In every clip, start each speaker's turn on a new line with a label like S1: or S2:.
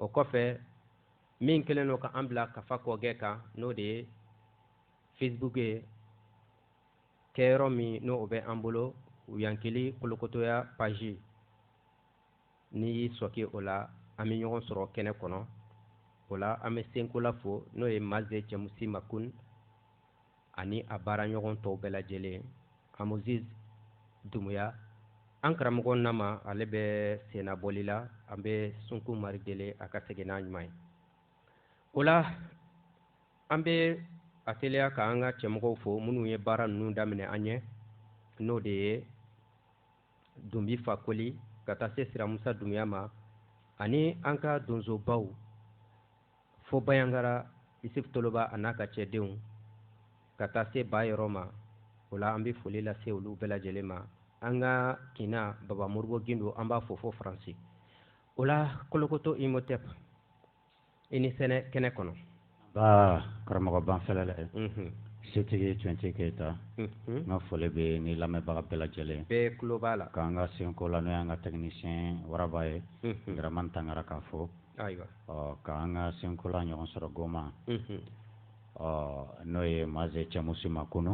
S1: o kɔfɛ min kɛlen don ka an bila kafa kɔgɛ kan n'o de ye facebook ye kɛyɔrɔ min n'o bɛ an bolo yankili kolokotoya paji n'i y'i sɔke o la an bɛ ɲɔgɔn sɔrɔ kɛnɛ kɔnɔ o la an bɛ senkola fo n'o ye maze cɛmusi makun ani a baaraɲɔgɔn tɔw bɛɛ lajɛlen amuziz dumuya an karamɔgɔ nama ale bɛ sennabɔli la an bɛ sunkun mari deli a ka segin n'a ɲuman ye o la an bɛ a teliya ka an ka cɛmɔgɔw fo minnu ye baara ninnu daminɛ an ɲɛ n'o de ye dunbi fakoli ka taa se siramusa dumuya ma ani an ka donsobaw fo bayangara isif toloba a n'a ka cɛdenw ka taa se ba yɔrɔ ma o la an bɛ foli lase olu bɛɛ lajɛlen ma an ka kina baba moribo gindo an b'a fo fo faransi o la kolokoto imotep i ni sɛnɛ kɛnɛ kɔnɔ nba karamɔgɔ banfɛlɛ lɛ mhm. setigi cɛntigi keyita mhm. n ka foli bɛ ni lamɛnbaga bɛɛ lajɛlen bɛɛ tulo b'a la k'an ka senkola n'o y'an ka tɛkinisiyɛn waraba ye mhm. dramani tangara k'a fo ayiwa ɔ k'an ka senkola ɲɔgɔn sɔrɔ goma ɔ n'o ye maze cɛmusi makunu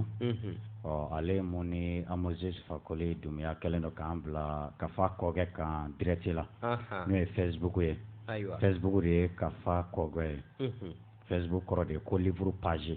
S1: ɔ ale mun ni amoze fakoli dumuya kɛlen don k'an bila kafa kɔgɛ kan direct la n'o ye facebook ye facebook de ye kafa kɔgɛ ye facebook kɔrɔ de ye ko livre page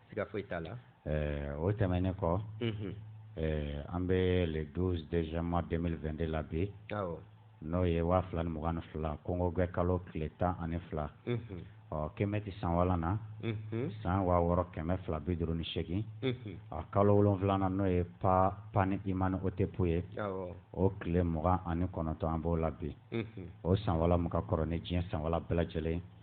S1: siga foyi t'a la eh, o tɛmɛnen kɔ mhm. eh, an bɛ le 12 deuxième mois 2022 la bi n'o ye waa fila ni mugan ni fila konkogwɛ kalo tile tan ani fila mhm. ɔ kɛmɛti san walan na mhm. san waa wɔɔrɔ kɛmɛ fila bi duuru ni seegin ɔ kalo wolonwulanan n'o ye pa pa ni imani otɛpu ye o tile mugan ani kɔnɔntɔn an b'o la bi o san wala mun ka kɔrɔ ni diɲɛ san wala bɛɛ lajɛlen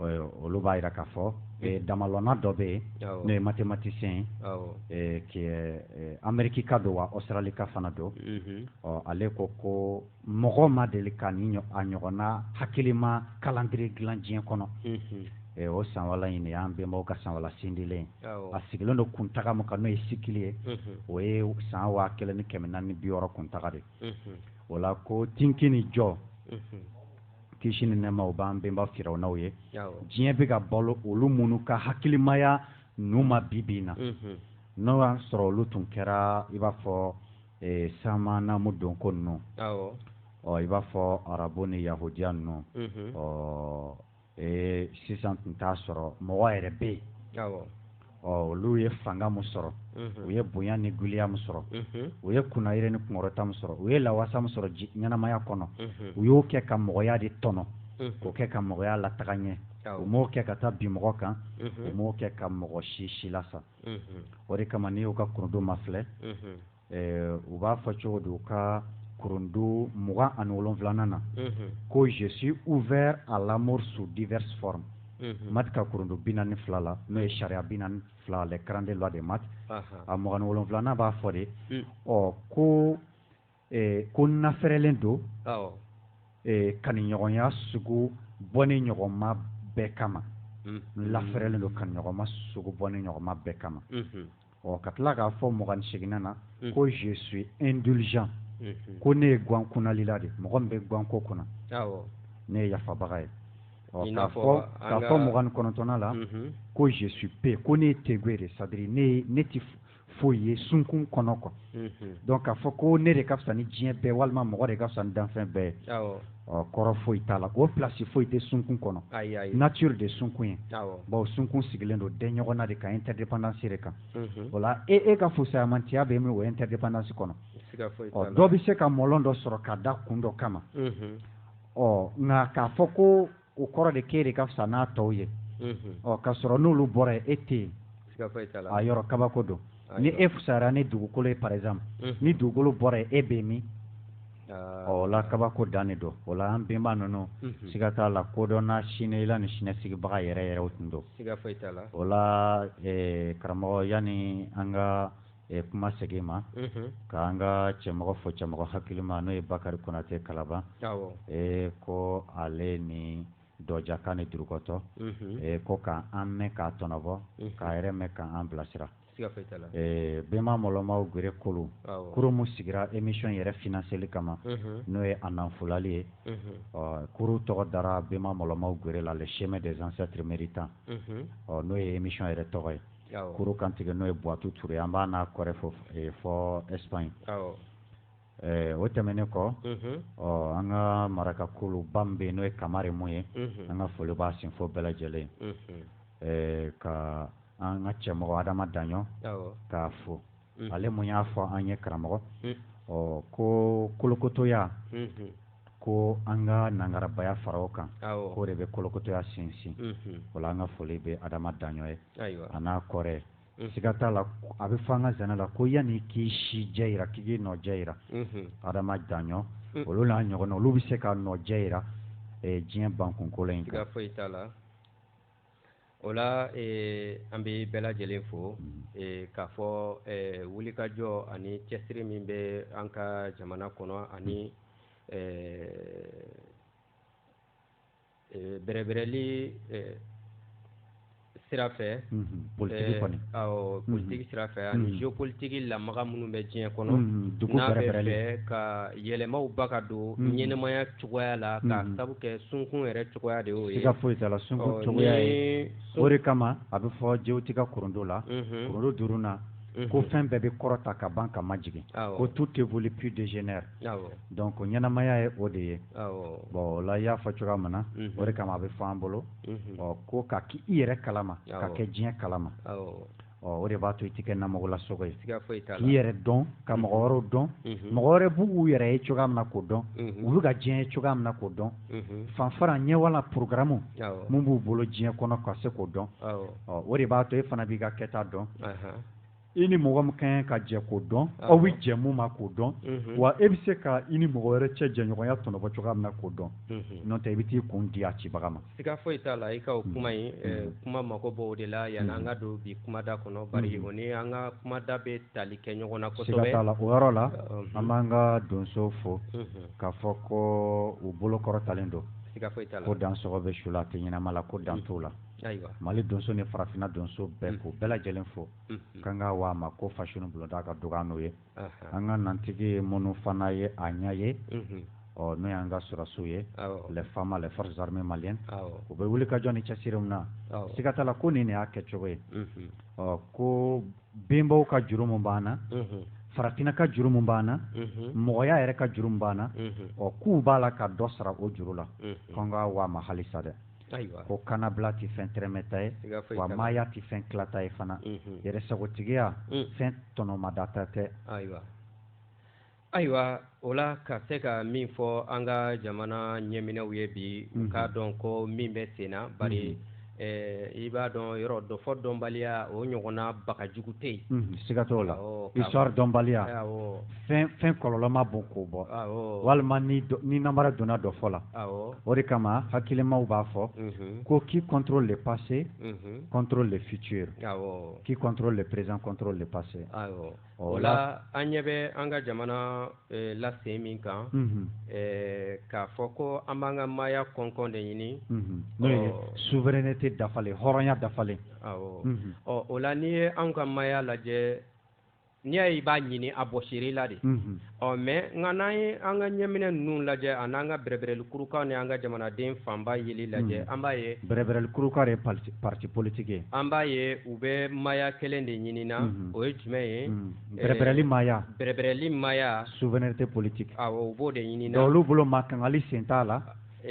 S1: olu b'a jira k'a fɔ mm. damalɔnna dɔ bɛ yen n'o ye mathématicien ye cɛ amerikika don wa australie ka fana don mm-hmm. ɔ ale ko ko mɔgɔ ma deli ka ni a ɲɔgɔnna hakilima calendrier dilan diɲɛ kɔnɔ mm-hmm. o sanwala in de y'an bɛnbaw ka sanwala sindilen a sigilen don kuntaga min kan n'o ye sikili ye mm-hmm. o ye san waa kelen ni kɛmɛ naani bi wɔɔrɔ kuntaga de b'a la ko tinki ni jɔ kisi ni nɛɛma o b'an bɛnba firawunaw ye diɲɛ bɛ ka balo olu minnu ka hakilimaya nu ma bibi in na n'o y'a sɔrɔ olu tun kɛra i b'a fɔ eh, sama namu donko ninnu ɔ i b'a fɔ arabu ni yahudiya ninnu ɔ eh, sisan tun t'a sɔrɔ mɔgɔ yɛrɛ bɛ yen ɔ olu ye fanga min sɔrɔ u ye bonya ni giliya min sɔrɔ u ye kunnayiri ni kunkɔrɔta min sɔrɔ u ye lawasa min sɔrɔ ɲɛnamaya kɔnɔ u y'o kɛ ka mɔgɔya de tɔnɔ k'o kɛ ka mɔgɔya lataga ɲɛ u m'o kɛ ka taa bin mɔgɔ kan u m'o kɛ ka mɔgɔ si silasa o de kama n'i y'u ka kurundu mafilɛ eh, u b'a fɔ cogo don ka kurundu mugan ani wolonfilanan na ko je suis ouvert à l'amour sous diverses formes mhm. mat ka kurundu bi naani fila la n'o ye sariya bi naani fila les quarante-deux lois de mat a mugan ni wolonfilanan b'a fɔ de mm. ɔ ko eh, ko n nafɛrɛlen don eh, kaniɲɔgɔnya sugu bɔnen ɲɔgɔn ma bɛɛ kama mm-hmm. n lafɛrɛlen don kaniɲɔgɔnma sugu bɔnen ɲɔgɔn ma bɛɛ kama mm-hmm. ɔ ka tila k'a fɔ mugan ni seginnan na mm. ko je suis indulgent mm-hmm. ko ne ye guwan kunalila de mɔgɔ min bɛ guwan ko kunna ne ye yafabaga ye ɔ k'a fɔ k'a fɔ mugan ni kɔnɔntɔnnan la mm-hmm. ko je suis peu ko ne ye tegue de c'est-à-dire ne ne ti foyi ye sunkun kɔnɔ kɔ mm-hmm. donc k'a fɔ ko ne de ka fisa ni diɲɛ bɛɛ walima mɔgɔ de ka fisa ni danfɛn bɛɛ ye ɔ kɔrɔ foyi t'a la o plasi foyi tɛ sunkun kɔnɔ nature de sunkun ye bawo sunkun sigilen don dɛnɲɔgɔnna de kan interdépendance de kan o la e e ka fusayamantiya bɛ min o interdépendance kɔnɔ ɔ dɔ bɛ se ka mɔlɔn dɔ sɔrɔ ka da kun dɔ kama ɔ nka k'a fɔ ko o kɔrɔ de k'e de ka fisa n'a tɔw ye ɔ ka sɔrɔ n'olu bɔra yen e tɛ yen a yɔrɔ kabako don ni e fusayara ni dugukolo ye par exemple ni dugukolo bɔra yen e bɛ min ɔ o la kabako dan de don o la an bɛnba ninnu siga t'a la kodɔnna siniyela ni siniɲɛsigibaga yɛrɛ yɛrɛw tun don o la karamɔgɔ yanni an ka ɛ kuma segin i ma k'an ka cɛmɔgɔ fo cɛmɔgɔ hakilima n'o ye Bakari Konate Kalaban ee ko ale ni Dɔɔjakan ni Durukɔtɔ ee ko k'an mɛn k'a tɔnɔ bɔ k'a yɛrɛ mɛn k'an bilasira ee Bɛnba Mɔlɔmaw Gere Kolu kuru min sigira emission yɛrɛ financeli kama n'o ye a nanfolali ye ɔ kuru tɔgɔ dara Bɛnba Mɔlɔmaw Gere la le chemin des ancêtres méritants ɔ n'o ye emission yɛrɛ tɔgɔ ye. kuru kantigɛ n'o ye buwatu ture ye an b'a n'a kɔrɛ fo fo Espagne o tɛmɛnen kɔ ɔ an ka maraka kolo ban bɛ yen n'o ye kamari mun ye an ka foli b'a sinfɔ bɛɛ lajɛlen kan an ka cɛmɔgɔ adama daɲɔ k'a fo mm. ale mun y'a fɔ an ye karamɔgɔ mm. ɔ ko kolokotoya mm-hmm. ko an ka nangarabaya fara o kan k'o de bɛ kolokotoya sinsin mm-hmm. o la an ka foli bɛ adama daɲɔ ye a n'a kɔrɛ mm. siga t'a la a bɛ fɔ an ka zana la ko yanni k'i si jɛ yira k'i k'i nɔ jɛ yira mm-hmm. adama daɲɔ olu n'a ɲɔgɔnna olu bɛ se ka nɔ jɛ yira diɲɛ bankukolo in kan o la eh, an bɛ bɛɛ lajɛlen fo mm. eh, k'a fɔ eh, wulikajɔ ani cɛsiri min bɛ an ka jamana kɔnɔ ani bɛrɛbɛrɛli sira fɛ mm-hmm. politiki eh, kɔni awɔ mm-hmm. politiki sira fɛ ani mm-hmm. géopolitiki lamaga minnu bɛ diɲɛ kɔnɔ n'a bɛ fɛ ka yɛlɛmaw ba ka don ɲɛnamaya cogoya la k'a sabu kɛ sunkun yɛrɛ cogoya de y'o ye siga foyi t'a la sunkun oh, cogoya ye o de kama a bɛ fɔ jewuti ka kurundu la mhm. kurundu duurunan mhm. ko fɛn bɛɛ bɛ kɔrɔta ka ban ka majigin ko tout évolue puis dégénère donc ɲɛnamaya ye o de ye bon o la i y'a fɔ cogoya min na mhm. o de kama a bɛ fɔ an bolo ɔ ko ka k'i yɛrɛ kalama ka kɛ diɲɛ kalama o de b'a to i tɛ kɛ namɔgɔla sogo ye k'i yɛrɛ dɔn ka mɔgɔ wɛrɛw dɔn mɔgɔ wɛrɛ b'u yɛrɛ ye cogoya min na k'o dɔn u bɛ ka diɲɛ ye cogoya min na k'o dɔn fanfara ɲɛwala porogaramu min b'u bolo diɲɛ kɔnɔ ka se k'o dɔn o de b'a to e fana b'i ka kɛta dɔn i ni mɔgɔ min ka ɲi ka jɛ k'o dɔn aw bɛ jɛ mun ma k'o dɔn wa e bɛ se ka i ni mɔgɔ wɛrɛ cɛ jɛɲɔgɔnya tɔnɔ bɔ cogoya min na k'o dɔn n'o tɛ i bɛ t'i kun di a cibaga ma siga foyi t'a la i ka o kuma in mm. eh, kuma mako b'o de la yanni mm. an ka don bi kumada kɔnɔ mm. bari o ni an ka kumada bɛ tali kɛ ɲɔgɔn na kosɛbɛ siga t'a la o yɔrɔ la uh-huh. an b'an ka donso fo mm-hmm. k'a fɔ ko u bolo kɔrɔtalen don siga foyi t'a la ko dan sɔgɔ bɛ su la a tɛ ɲɛnama la ko dan t'o la ayiwa mali donso ni farafinna donso bɛɛ k'u bɛɛ lajɛlen fo k'an ka wa ma ko fasoni bulonda ka dɔgɔya n'o ye an ka nantigi ye minnu fana ye a ɲɛ ye ɔ n'o y'an ka sɔrɔsiw ye les fama les forces armées maliennes u bɛ wulikajɔ ni cɛsiri min na siga t'a la ko nin de y'a kɛcogo ye ɔ ko bɛnbaw ka juru min b'an na farafinna ka juru min b'an na mɔgɔya yɛrɛ ka juru min b'an na ɔ k'u b'a la ka dɔ sara o juru la k'an ka waa ma halisa dɛ ayiwa ko kanabila tɛ fɛn tɛrɛmɛta ye wa maaya tɛ fɛn tilata ye fana mhm. yɛrɛ sagotigiya mm. fɛn tɔnɔmadata tɛ ayiwa ayiwa o la ka se ka min fɔ an ka jamana ɲɛminɛw ye bi u mhm. k'a dɔn ko min bɛ sen na bari mhm. Eh, i b'a dɔn yɔrɔ dɔfɔ dɔnbaliya o ɲɔgɔnna baga jugu tɛ yen siga t'o la histoire dɔnbaliya fɛn fɛn kɔlɔlɔ ma bon k'o bɔ walima ni ni namara donna dɔfɔ la o de kama hakilimaw b'a fɔ mhm. ko qui contrôle le passé mhm. contrôle le futur qui contrôle le présent contrôle le passé o la an ɲɛ bɛ an ka jamana eh, lasen min kan mhm. eh, k'a fɔ ko an b'an ka maaya kɔnkɔn de ɲini n'o ye souveraineté dafalen hɔrɔnya dafalen awɔ ɔ o la n'i ye anw ka maaya lajɛ n'i y'a ye i b'a ɲini a bɔsiri la de ɔ mɛ nka n'an ye an ka ɲɛminɛ ninnu lajɛ ani an ka bɛrɛbɛrɛli kuruka ni an ka jamanaden fanba yeli lajɛ an b'a ye bɛrɛbɛrɛli kuruka ye parti politique ye an b'a ye u bɛ maaya kelen de ɲini na o ye jumɛn ye bɛrɛbɛrɛli maaya bɛrɛbɛrɛli maaya souveraineté politique u b'o de ɲini na olu bolo ma kangali sen t'a la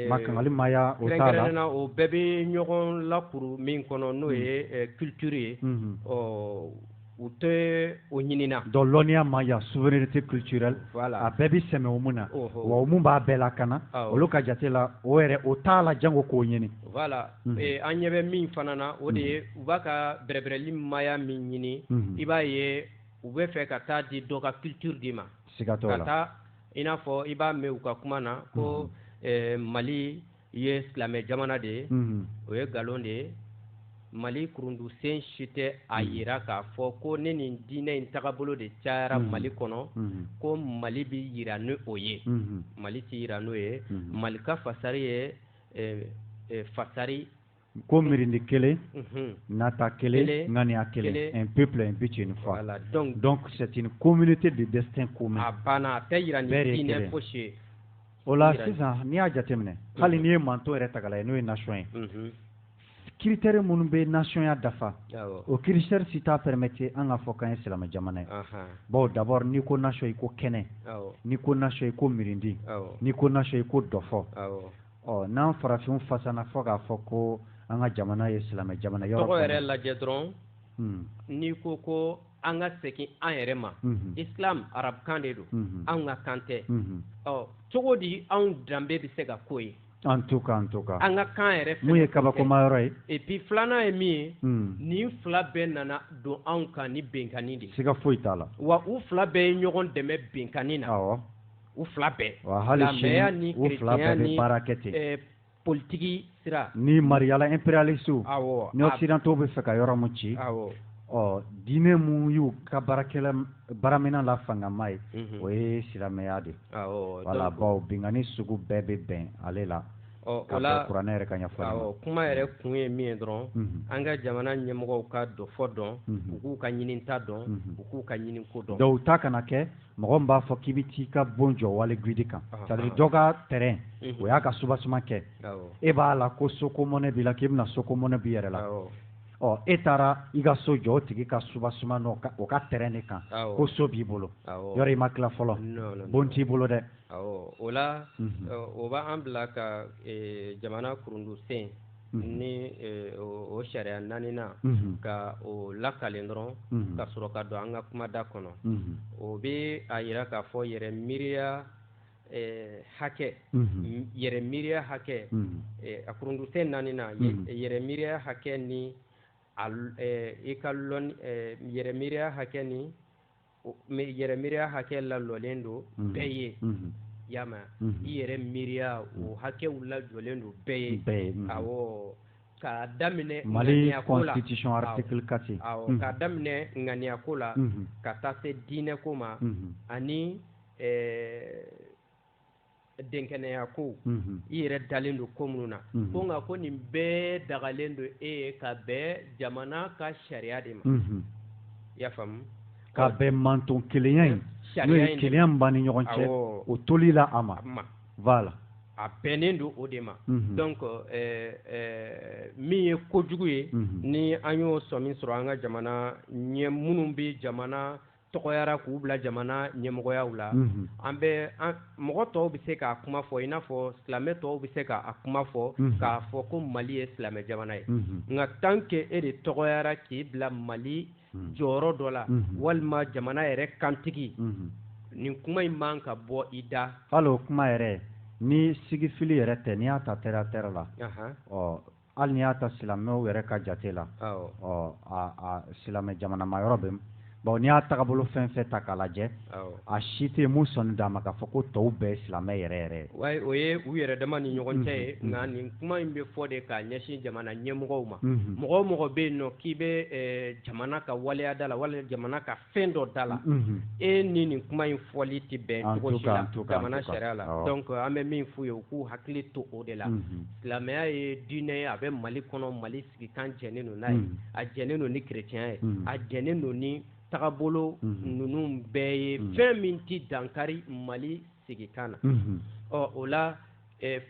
S1: ma kangali maaya o na o bɛɛ bɛ ɲɔgɔn lakuru min kɔnɔ n'o ye culture ye ɔ u tɛ o ɲinina donc lɔnniya maaya souveraineté culturelle voilà. a bɛɛ bi sɛmɛ o mun na wa o mun b'a bɛɛ lakana olu ka jate la o yɛrɛ o t'a la jango k'o ɲini voilà mm -hmm. e, an ɲɛ bɛ min fana na o de ye mhm. u b'a ka bɛrɛbɛrɛli maya min ɲini mm -hmm. i b'a ye u b'a fɛ ka taa di dɔ ka culture di ma sigatɔ la ka taa i n'a fɔ i b'a mɛn u ka kuma na ko mm -hmm. e, mali i ye silamɛ jamana de ye o ye nkalon de ye mali kurundusen si tɛ a hmm. yira k'a fɔ ko ni nin diinɛ in tagabolo de cayara hmm. mali kɔnɔ hmm. ko mali bɛ yira ni o ye mali tɛ yira n'o ye mali ka fasari ye eh, eh, fasari ko mirindi kelen nata kelen ŋaniya kelen un peuple un but une foi donc c'est une communauté de destin commun a banna a tɛ jira ne ko se o la sisan n'i y'a jateminɛ hali n'i ye manton yɛrɛ ta k'a lajɛ n'o ye nation ye critère minnu bɛ nationya dafa o critère si t'a permettre an k'a fɔ k'an ye silamɛ jamana ye bawo d'abord n'i ko nation i ko kɛnɛ n'i ko nation i ko mirindi n'i ko nation i ko dɔfɔ ɔ n'an farafinw fasana fɔ k'a fɔ ko an ka jamana ye silamɛ jamana ye o tɔgɔ yɛrɛ lajɛ dɔrɔn hmm. n'i ko ko an ka segin an yɛrɛ ma hmm. islam arabukan de don hmm. anw ka kan tɛ ɔ cogo di anw danbe bɛ se ka k'o ye an to ka an to ka an ka kan yɛrɛ mun ye kabakoma yɔrɔ ye et puis filanan ye min ye hmm. nin fila bɛɛ nana don anw kan ni binkanni de ye siga foyi t'a la wa u fila bɛɛ ye ɲɔgɔn dɛmɛ binkanni na awɔ u fila bɛɛ wa hali silamɛya ni u fila bɛɛ bɛ baara kɛ ten eh, politiki sira ni mariyala impérialiste awɔ ni occidentaux b'a fɛ ka yɔrɔ mun ci awɔ ɔ diinɛ mun y'u ka baarakɛla baaraminɛn la fangama ye mhm. o ye silamɛya de ye wala bawo binkanni sugu bɛɛ bɛ bɛn ale la o la kuranɛ yɛrɛ ka ɲɛfɔli awɔ kuma yɛrɛ kun ye min ye dɔrɔn mhm. an ka jamana ɲɛmɔgɔw ka dɔfɔ dɔn mhm. u k'u ka ɲininta dɔn u k'u ka ɲininko dɔn dɔw ta kana kɛ mɔgɔ b'a fɔ k'i bɛ t'i ka bon jɔ wali gidi kan c'est-à-dire dɔ ka terrain o y'a ka soubassement kɛ e b'a la ko soko mɔnɛ b'i la k'i bɛna soko mɔnɛ b'i yɛrɛ la ɔ e taara i ka so jɔ o tigi ka soubassement ni o ka terrain de kan ko so b'i bolo yɔrɔ i ma tila fɔlɔ bon t'i bolo dɛ o la o b'an bila ka jamana kurundusen ni o sariya naaninan ka o lakalen dɔrɔn ka sɔrɔ ka don an ka kumada kɔnɔ o bɛ a jira k'a fɔ yɛrɛ miiriya hakɛ yɛrɛ miiriya hakɛ a kurundusen naani yɛrɛ miiriya hakɛ ni i ka yɛrɛ miiriya hakɛ ni yɛrɛ miiriya hakɛ lajɔlen don bɛɛ ye yan i yɛrɛ miiriya o hakɛw lajɔlen don bɛɛ ye bɛɛ ye ka daminɛ maliya ko la kasi ka daminɛ ŋaniya ko la ka taa se diinɛ ko ma ani dɛnkɛnɛya ko mhm. i yɛrɛ dalen don ko minnu na mhm. ko nka ko nin bɛɛ dagalen don e ye ka bɛn jamana ka sariya de ma mhm. i y'a faamu ka bɛn manton kelenya in n'o ye kelenya min b'an ni ɲɔgɔn cɛ o toli la a ma voilà a bɛnnen don o de ma donc eh, eh, min ye kojugu ye ni an y'o sɔmi sɔrɔ an ka jamana ɲɛ minnu bɛ jamana tɔgɔyara k'u bila jamana ɲɛmɔgɔyaw la an bɛ mɔgɔ tɔw bɛ se k'a kuma fɔ i n'a fɔ silamɛ tɔw bɛ se k'a kuma fɔ k'a fɔ ko mali ye silamɛ jamana ye nka tant que e de tɔgɔyara k'i bila mali jɔyɔrɔ dɔ la walima jamana yɛrɛ kantigi nin kuma in man ka bɔ i da la o kuma yɛrɛ ni sigifili yɛrɛ tɛ n'i y'a ta terre à terre la hali ni y'a ta silamɛw yɛrɛ ka jate la ɔ a silamɛ jamanama yɔrɔ bɛ bawo n'i y'a tagabolo fɛn fɛn ta k'a lajɛ a si tɛ mun sɔnni d'a ma k'a fɔ ko tɔw bɛɛ ye silamɛ yɛrɛ yɛrɛ ye wa o ye u yɛrɛ dama ni ɲɔgɔn cɛ ye nka nin kuma in bɛ fɔ de k'a ɲɛsin jamana ɲɛmɔgɔw ma mɔgɔ mɔgɔ bɛ yen n'o k'i bɛ jamana ka waleyada la walima jamana ka fɛn dɔ da la e ni nin kuma in fɔli tɛ bɛn cogo si la jamana sariya la donc an bɛ min f'u ye u k'u hakili to o de la silamɛya ye diinɛ ye a bɛ mali kɔnɔ mali sigikan jɛnnen don n'a ye a jɛnnen don ni kerecɛnya ye a jɛnnen don ni tagabolo ninnu bɛɛ ye fɛn min tɛ dankari mali sigikan na ɔ o la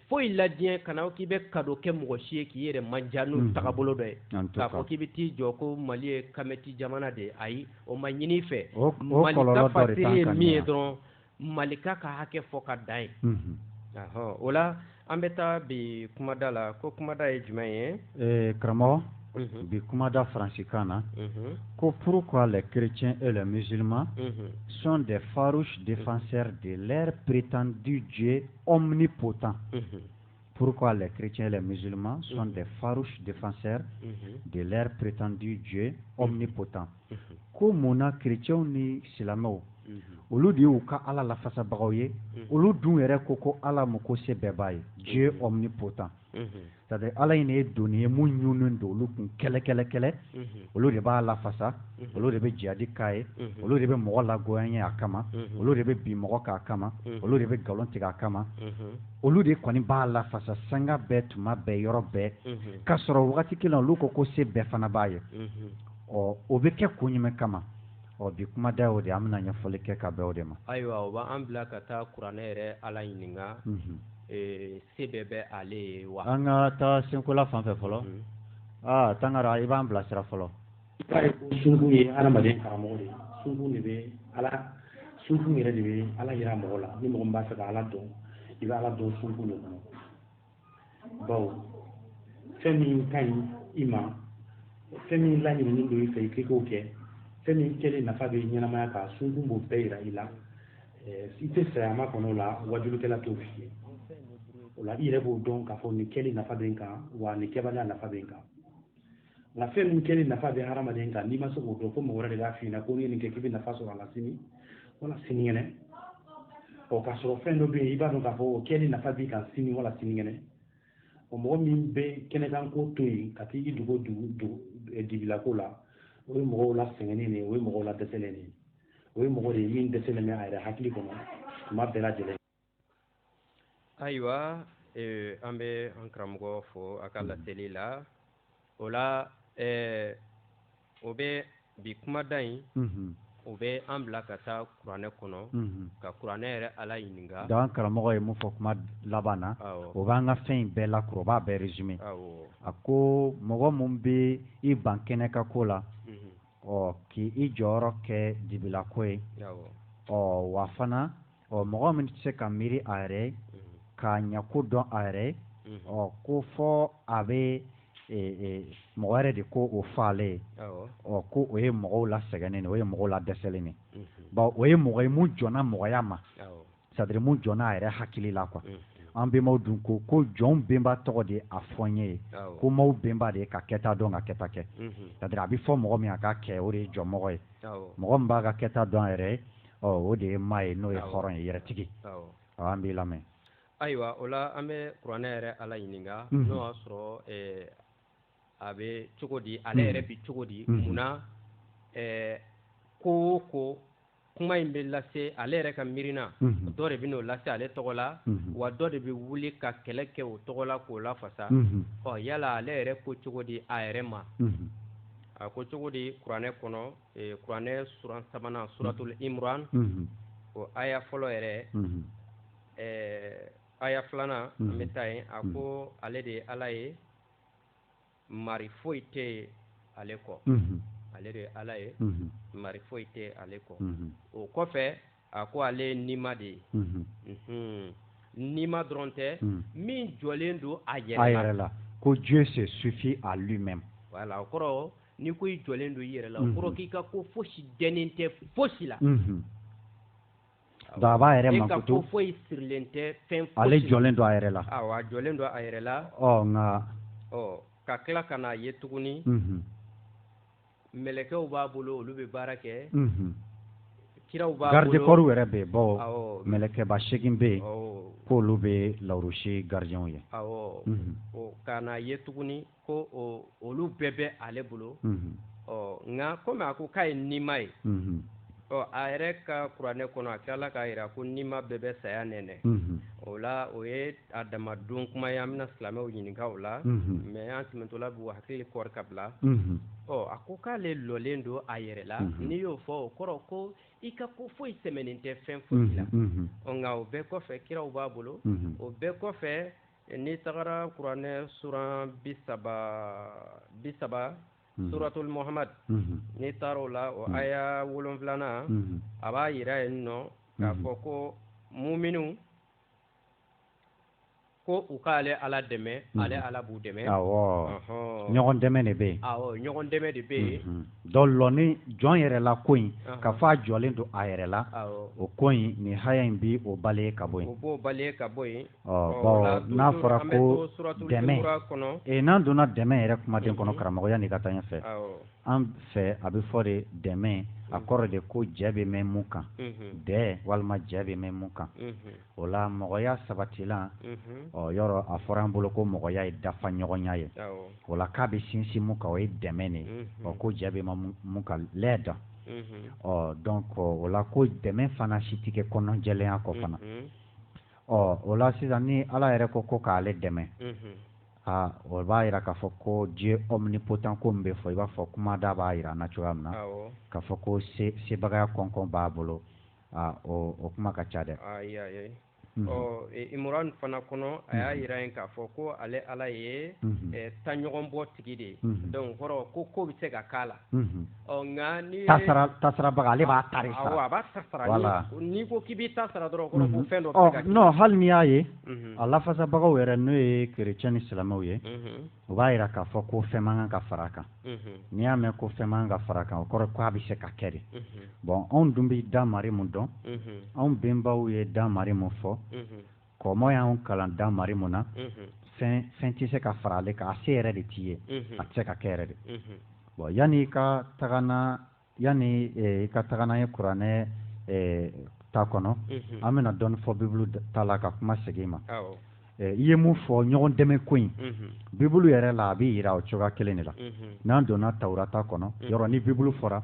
S1: foyi la diɲɛ kana k'i bɛ ka kɛ mɔgɔ si ye k'i yɛrɛ man jan n'u tagabolo dɔ ye k'a fɔ k'i bɛ t'i jɔ ko mali ye kamiti jamana de ye ayi o ma ɲini fɛ ye min ye dɔrɔn malika ka hakɛ fɔ ka da ye o la an bɛ taa bi kumada la ko kumada ye jumɛn ye karamɔgɔ bi kumada faransikan na ko pourquoi les chrétiens et les musulmans sont des farouches défenseurs de leur prétendu Dieu omnipotent. Mm -hmm. Pourquoi les chrétiens et les musulmans sont mm -hmm. des farouches défenseurs mm -hmm. de leur prétendu Dieu mm-hmm. omnipotent mm-hmm. Ko mun na chrétienw ni silamɛw mm-hmm. olu de y'u ka ala lafasabagaw ye olu dun yɛrɛ ko ko ala mun ko se bɛɛ b'a ye Dieu omnipotent sadi ala in ye doni ye mun ɲunnen don olu kun kɛlɛ kɛlɛ kɛlɛ olu de b'a lafasa olu de bɛ jihadi k'a ye olu de bɛ mɔgɔ lagoyan ye a kama olu de bɛ bin mɔgɔ kan a kama olu de bɛ nkalon tigɛ a kama olu de kɔni b'a lafasa sanga bɛɛ tuma bɛɛ yɔrɔ bɛɛ k'a sɔrɔ wagati kelen olu ko ko se bɛɛ fana b'a ye ɔ o bɛ kɛ kun jumɛn kama ɔ bi kumada y'o de an bɛna ɲɛfɔli kɛ ka bɛn o de ma ayiwa o b'an bila ka taa kuranɛ yɛrɛ ala ɲininka se bɛɛ bɛ ale ye wa an ka taa senkola fan fɛ fɔlɔ mhm. aa ah, tangara i b'an bilasira fɔlɔ sunku ye adamaden karamɔgɔ de ye sunku de bɛ ala sunku yɛrɛ de bɛ ala yira mɔgɔ la ni mɔgɔ min b'a fɛ ka ala dɔn i bɛ ala dɔn sunku de kɔnɔ bawo fɛn min ka ɲi i ma fɛn min laɲininen don i fɛ i k'i k'o kɛ fɛn min kɛlen nafa bɛ ɲɛnamaya kan sunku b'o bɛɛ yira i la i tɛ saya makɔnɔ o la wajulikɛla t'o f'i ye o la i yɛrɛ b'o dɔn k'a fɔ nin kɛli nafa bɛ n kan wa nin kɛbaliya nafa bɛ n kan nka fɛn min kɛli nafa bɛ hadamaden kan n'i ma se k'o dɔn ko mɔgɔ wɛrɛ de b'a f'i ɲɛna ko n'i ye nin kɛ k'i bɛ nafa sɔrɔ a la sini wala sinikɛnɛ ɔ k'a sɔrɔ fɛn dɔ bɛ yen i b'a dɔn k'a fɔ o kɛli nafa b'i kan sini wala sinikɛnɛ o mɔgɔ min bɛ kɛnɛkan ko to yen ka t'i dogo dugu dibilako la o ye mɔgɔw la sɛgɛnnen de ye o ye mɔgɔw la dɛsɛlen de ye o ye mɔgɔ de ye min dɛsɛlen bɛ a yɛrɛ hakili kɔnɔ tuma bɛɛ lajɛlen ayiwa eh, an bɛ an karamɔgɔ fo a ka laseli la o la eh, o bɛ bi kumada in mhm. o bɛ an bila ka taa kuranɛ kɔnɔ mhm. ka kuranɛ yɛrɛ ala ɲininka an karamɔgɔ ye mun fɔ kuma laban na o b'an ka fɛn in bɛɛ lakuru o b'a bɛɛ résumé a ko mɔgɔ min bɛ i ban kɛnɛkan ko la ɔ k'i i jɔyɔrɔ kɛ dibilako ye ɔ wa fana ɔ mɔgɔ min tɛ se ka miiri a yɛrɛ ye mm-hmm. k'a ɲɛko dɔn a yɛrɛ ye mm-hmm. ɔ ko fo a bɛ e, e, mɔgɔ wɛrɛ de k'o f'ale ye ɔ ko o ye mɔgɔw la sɛgɛnnen o ye mɔgɔw la dɛsɛlen ye mm-hmm. o ye mɔgɔ ye mun jɔnna mɔgɔya ma sadiri mun jɔnna a yɛrɛ hakili la k'an benbaw dun ko ko jɔn benba tɔgɔ de a fɔ n ye ko maaw benba de ye ka kɛta dɔn ka kɛta kɛ sadiri a bɛ fɔ mɔgɔ min a ka kɛ o de ye jɔnmɔgɔ ye mɔgɔ min b'a ka kɛta dɔn a yɛrɛ o de ye maa ye n'o ye hɔrɔn ye yɛrɛtigi an b'i lamɛn ayiwa o la an bɛ kuranɛ yɛrɛ ala ɲininka n'o y'a sɔrɔ a bɛ cogo di ale yɛrɛ bɛ cogo di mun ko ko kuma in bɛ lase ale yɛrɛ ka miirina dɔ de b'o lase ale tɔgɔ la wa dɔ de bɛ wuli ka kɛlɛ kɛ o tɔgɔ la k'o lafasa ɔ yala ale yɛrɛ ko cogo di a yɛrɛ ma a ko cogo di kuranɛ kɔnɔ kuranɛ suran sabanan suratuli imuran o aya fɔlɔ yɛrɛ ɛɛ aya filanan an bɛ taa yen a ko ale de ye ala ye mari foyi tɛ yen ale kɔ ale de ye ala ye mari foyi tɛ ale kɔ o kɔfɛ a ko ale ye nima de ye nima dɔrɔn tɛ min jɔlen don a yɛrɛ a yɛrɛ la ko Dieu se suffit à lui-même voilà o kɔrɔ ni ko i jɔlen don i yɛrɛ la o kɔrɔ k'i ka ko fosi dɛnnen tɛ fosi la Don a b'a yɛrɛ ma to foyi sirilen tɛ fɛn ale jɔlen don a yɛrɛ la jɔlen don a yɛrɛ la nka ka tila ka n'a ye tuguni mɛlɛkɛw b'a bolo olu bɛ baara kɛ kiraw b'a garde-corps yɛrɛ b'a bolo mɛlɛkɛba seegin bɛ yen k'olu bɛ larusi gardienw ye ka n'a ye tuguni ko olu bɛɛ bɛ ale bolo ɔ nka kɔmi a ko k'a ye nima ye ɔ a yɛrɛ ka kuranɛ kɔnɔ a tilala k'a jira ko nima bɛɛ bɛ saya nɛnɛ o la o ye a dama don kuma ye an bɛna silamɛw ɲininka o la mɛ an tɛmɛtɔla b'u hakili kɔri ka bila ɔ a ko k'ale lɔlen don a yɛrɛ la n'i y'o fɔ o kɔrɔ ko i ka ko foyi sɛmɛnen tɛ fɛn foyi la nka o bɛɛ kɔfɛ kiraw b'a bolo o bɛɛ kɔfɛ n'i tagara kuranɛ suran bi saba bi saba mhm. suratul muhammad mhm. n'i taara o la o mhm. aya wolonfilana a b'a yira yen nɔ k'a fɔ ko muminu ko u k'ale ala dɛmɛ ale ala b'u dɛmɛ ɲɔgɔn dɛmɛ de bɛ yen ɲɔgɔn dɛmɛ de bɛ yen dɔ lɔni jɔn yɛrɛ la ko in k'a fɔ a jɔlen don a yɛrɛ la o ko in nin aya in b'o baleye ka bɔ yen o b'o baleye ka bɔ yen n'a fɔra ko dɛmɛ n'an donna dɛmɛ yɛrɛ kumaden kɔnɔ karamɔgɔ yanni ka taa ɲɛfɛ an fɛ a bɛ fɔ de dɛmɛ a kɔrɔ de ko jɛ bɛ mɛn mun kan dɛ walima jɛ bɛ mɛn mun kan o la mɔgɔya sabati la ɔ yɔrɔ a fɔra an bolo ko mɔgɔya ye dafa ɲɔgɔnya ye o la k'a bɛ sinsin mun kan o ye dɛmɛ de ɔ ko jɛ bɛ mɛn mun kan lɛ dɔn ɔ dɔnku o la ko dɛmɛ fana si tɛ kɛ kɔnɔnajɛya kɔ fana ɔ o la sisan ni ala yɛrɛ ko ko k'ale dɛmɛ aa o b'a jira k'a fɔ ko Dieu omnipotent ko min bɛ fɔ i b'a fɔ kuma da b'a jira an na cogoya min na k'a fɔ ko sebagaya kɔnkɔn b'a bolo aa o kuma ka ca dɛ imran fana kɔnɔ a y'a jira yen k'a fɔ ko ale ala ye taɲɔgɔn bɔ tigi de ye dɔnku kɔrɔ ko ko bɛ se ka k'a la nkabaga ale b'a tari n'i ko k'i bɛ ta sara dɔrɔn fɛn dɔ hali n'i y'a ye a lafasabagaw yɛrɛ n'o ye kerecɛn ni silamɛw ye o b'a jira k'a fɔ ko fɛn man kan ka fara kan n'i y'a mɛn ko fɛn man kan ka fara kan o kɔrɔ k' a bɛ se ka kɛ de bɔn anw dun bɛ dan mari min dɔn anw bɛnbaw ye dan mari min fɔ kɔmɔ y'an kalan dan mari mun na fɛn tɛ se ka fara ale kan a se yɛrɛ de t'i ye a tɛ se ka kɛ yɛrɛ de bɔn yanni i ka taga n'an yanni i ka taga n'an ye kuranɛ ta kɔnɔ an bɛna dɔɔnin fɔ bibulu ta la ka kuma segin i ma i ye mun fɔ ɲɔgɔn dɛmɛ ko in bibulu yɛrɛ la a bɛ jira o cogoya kelen de la n'an donna tawurata kɔnɔ yɔrɔ ni bibulu fɔra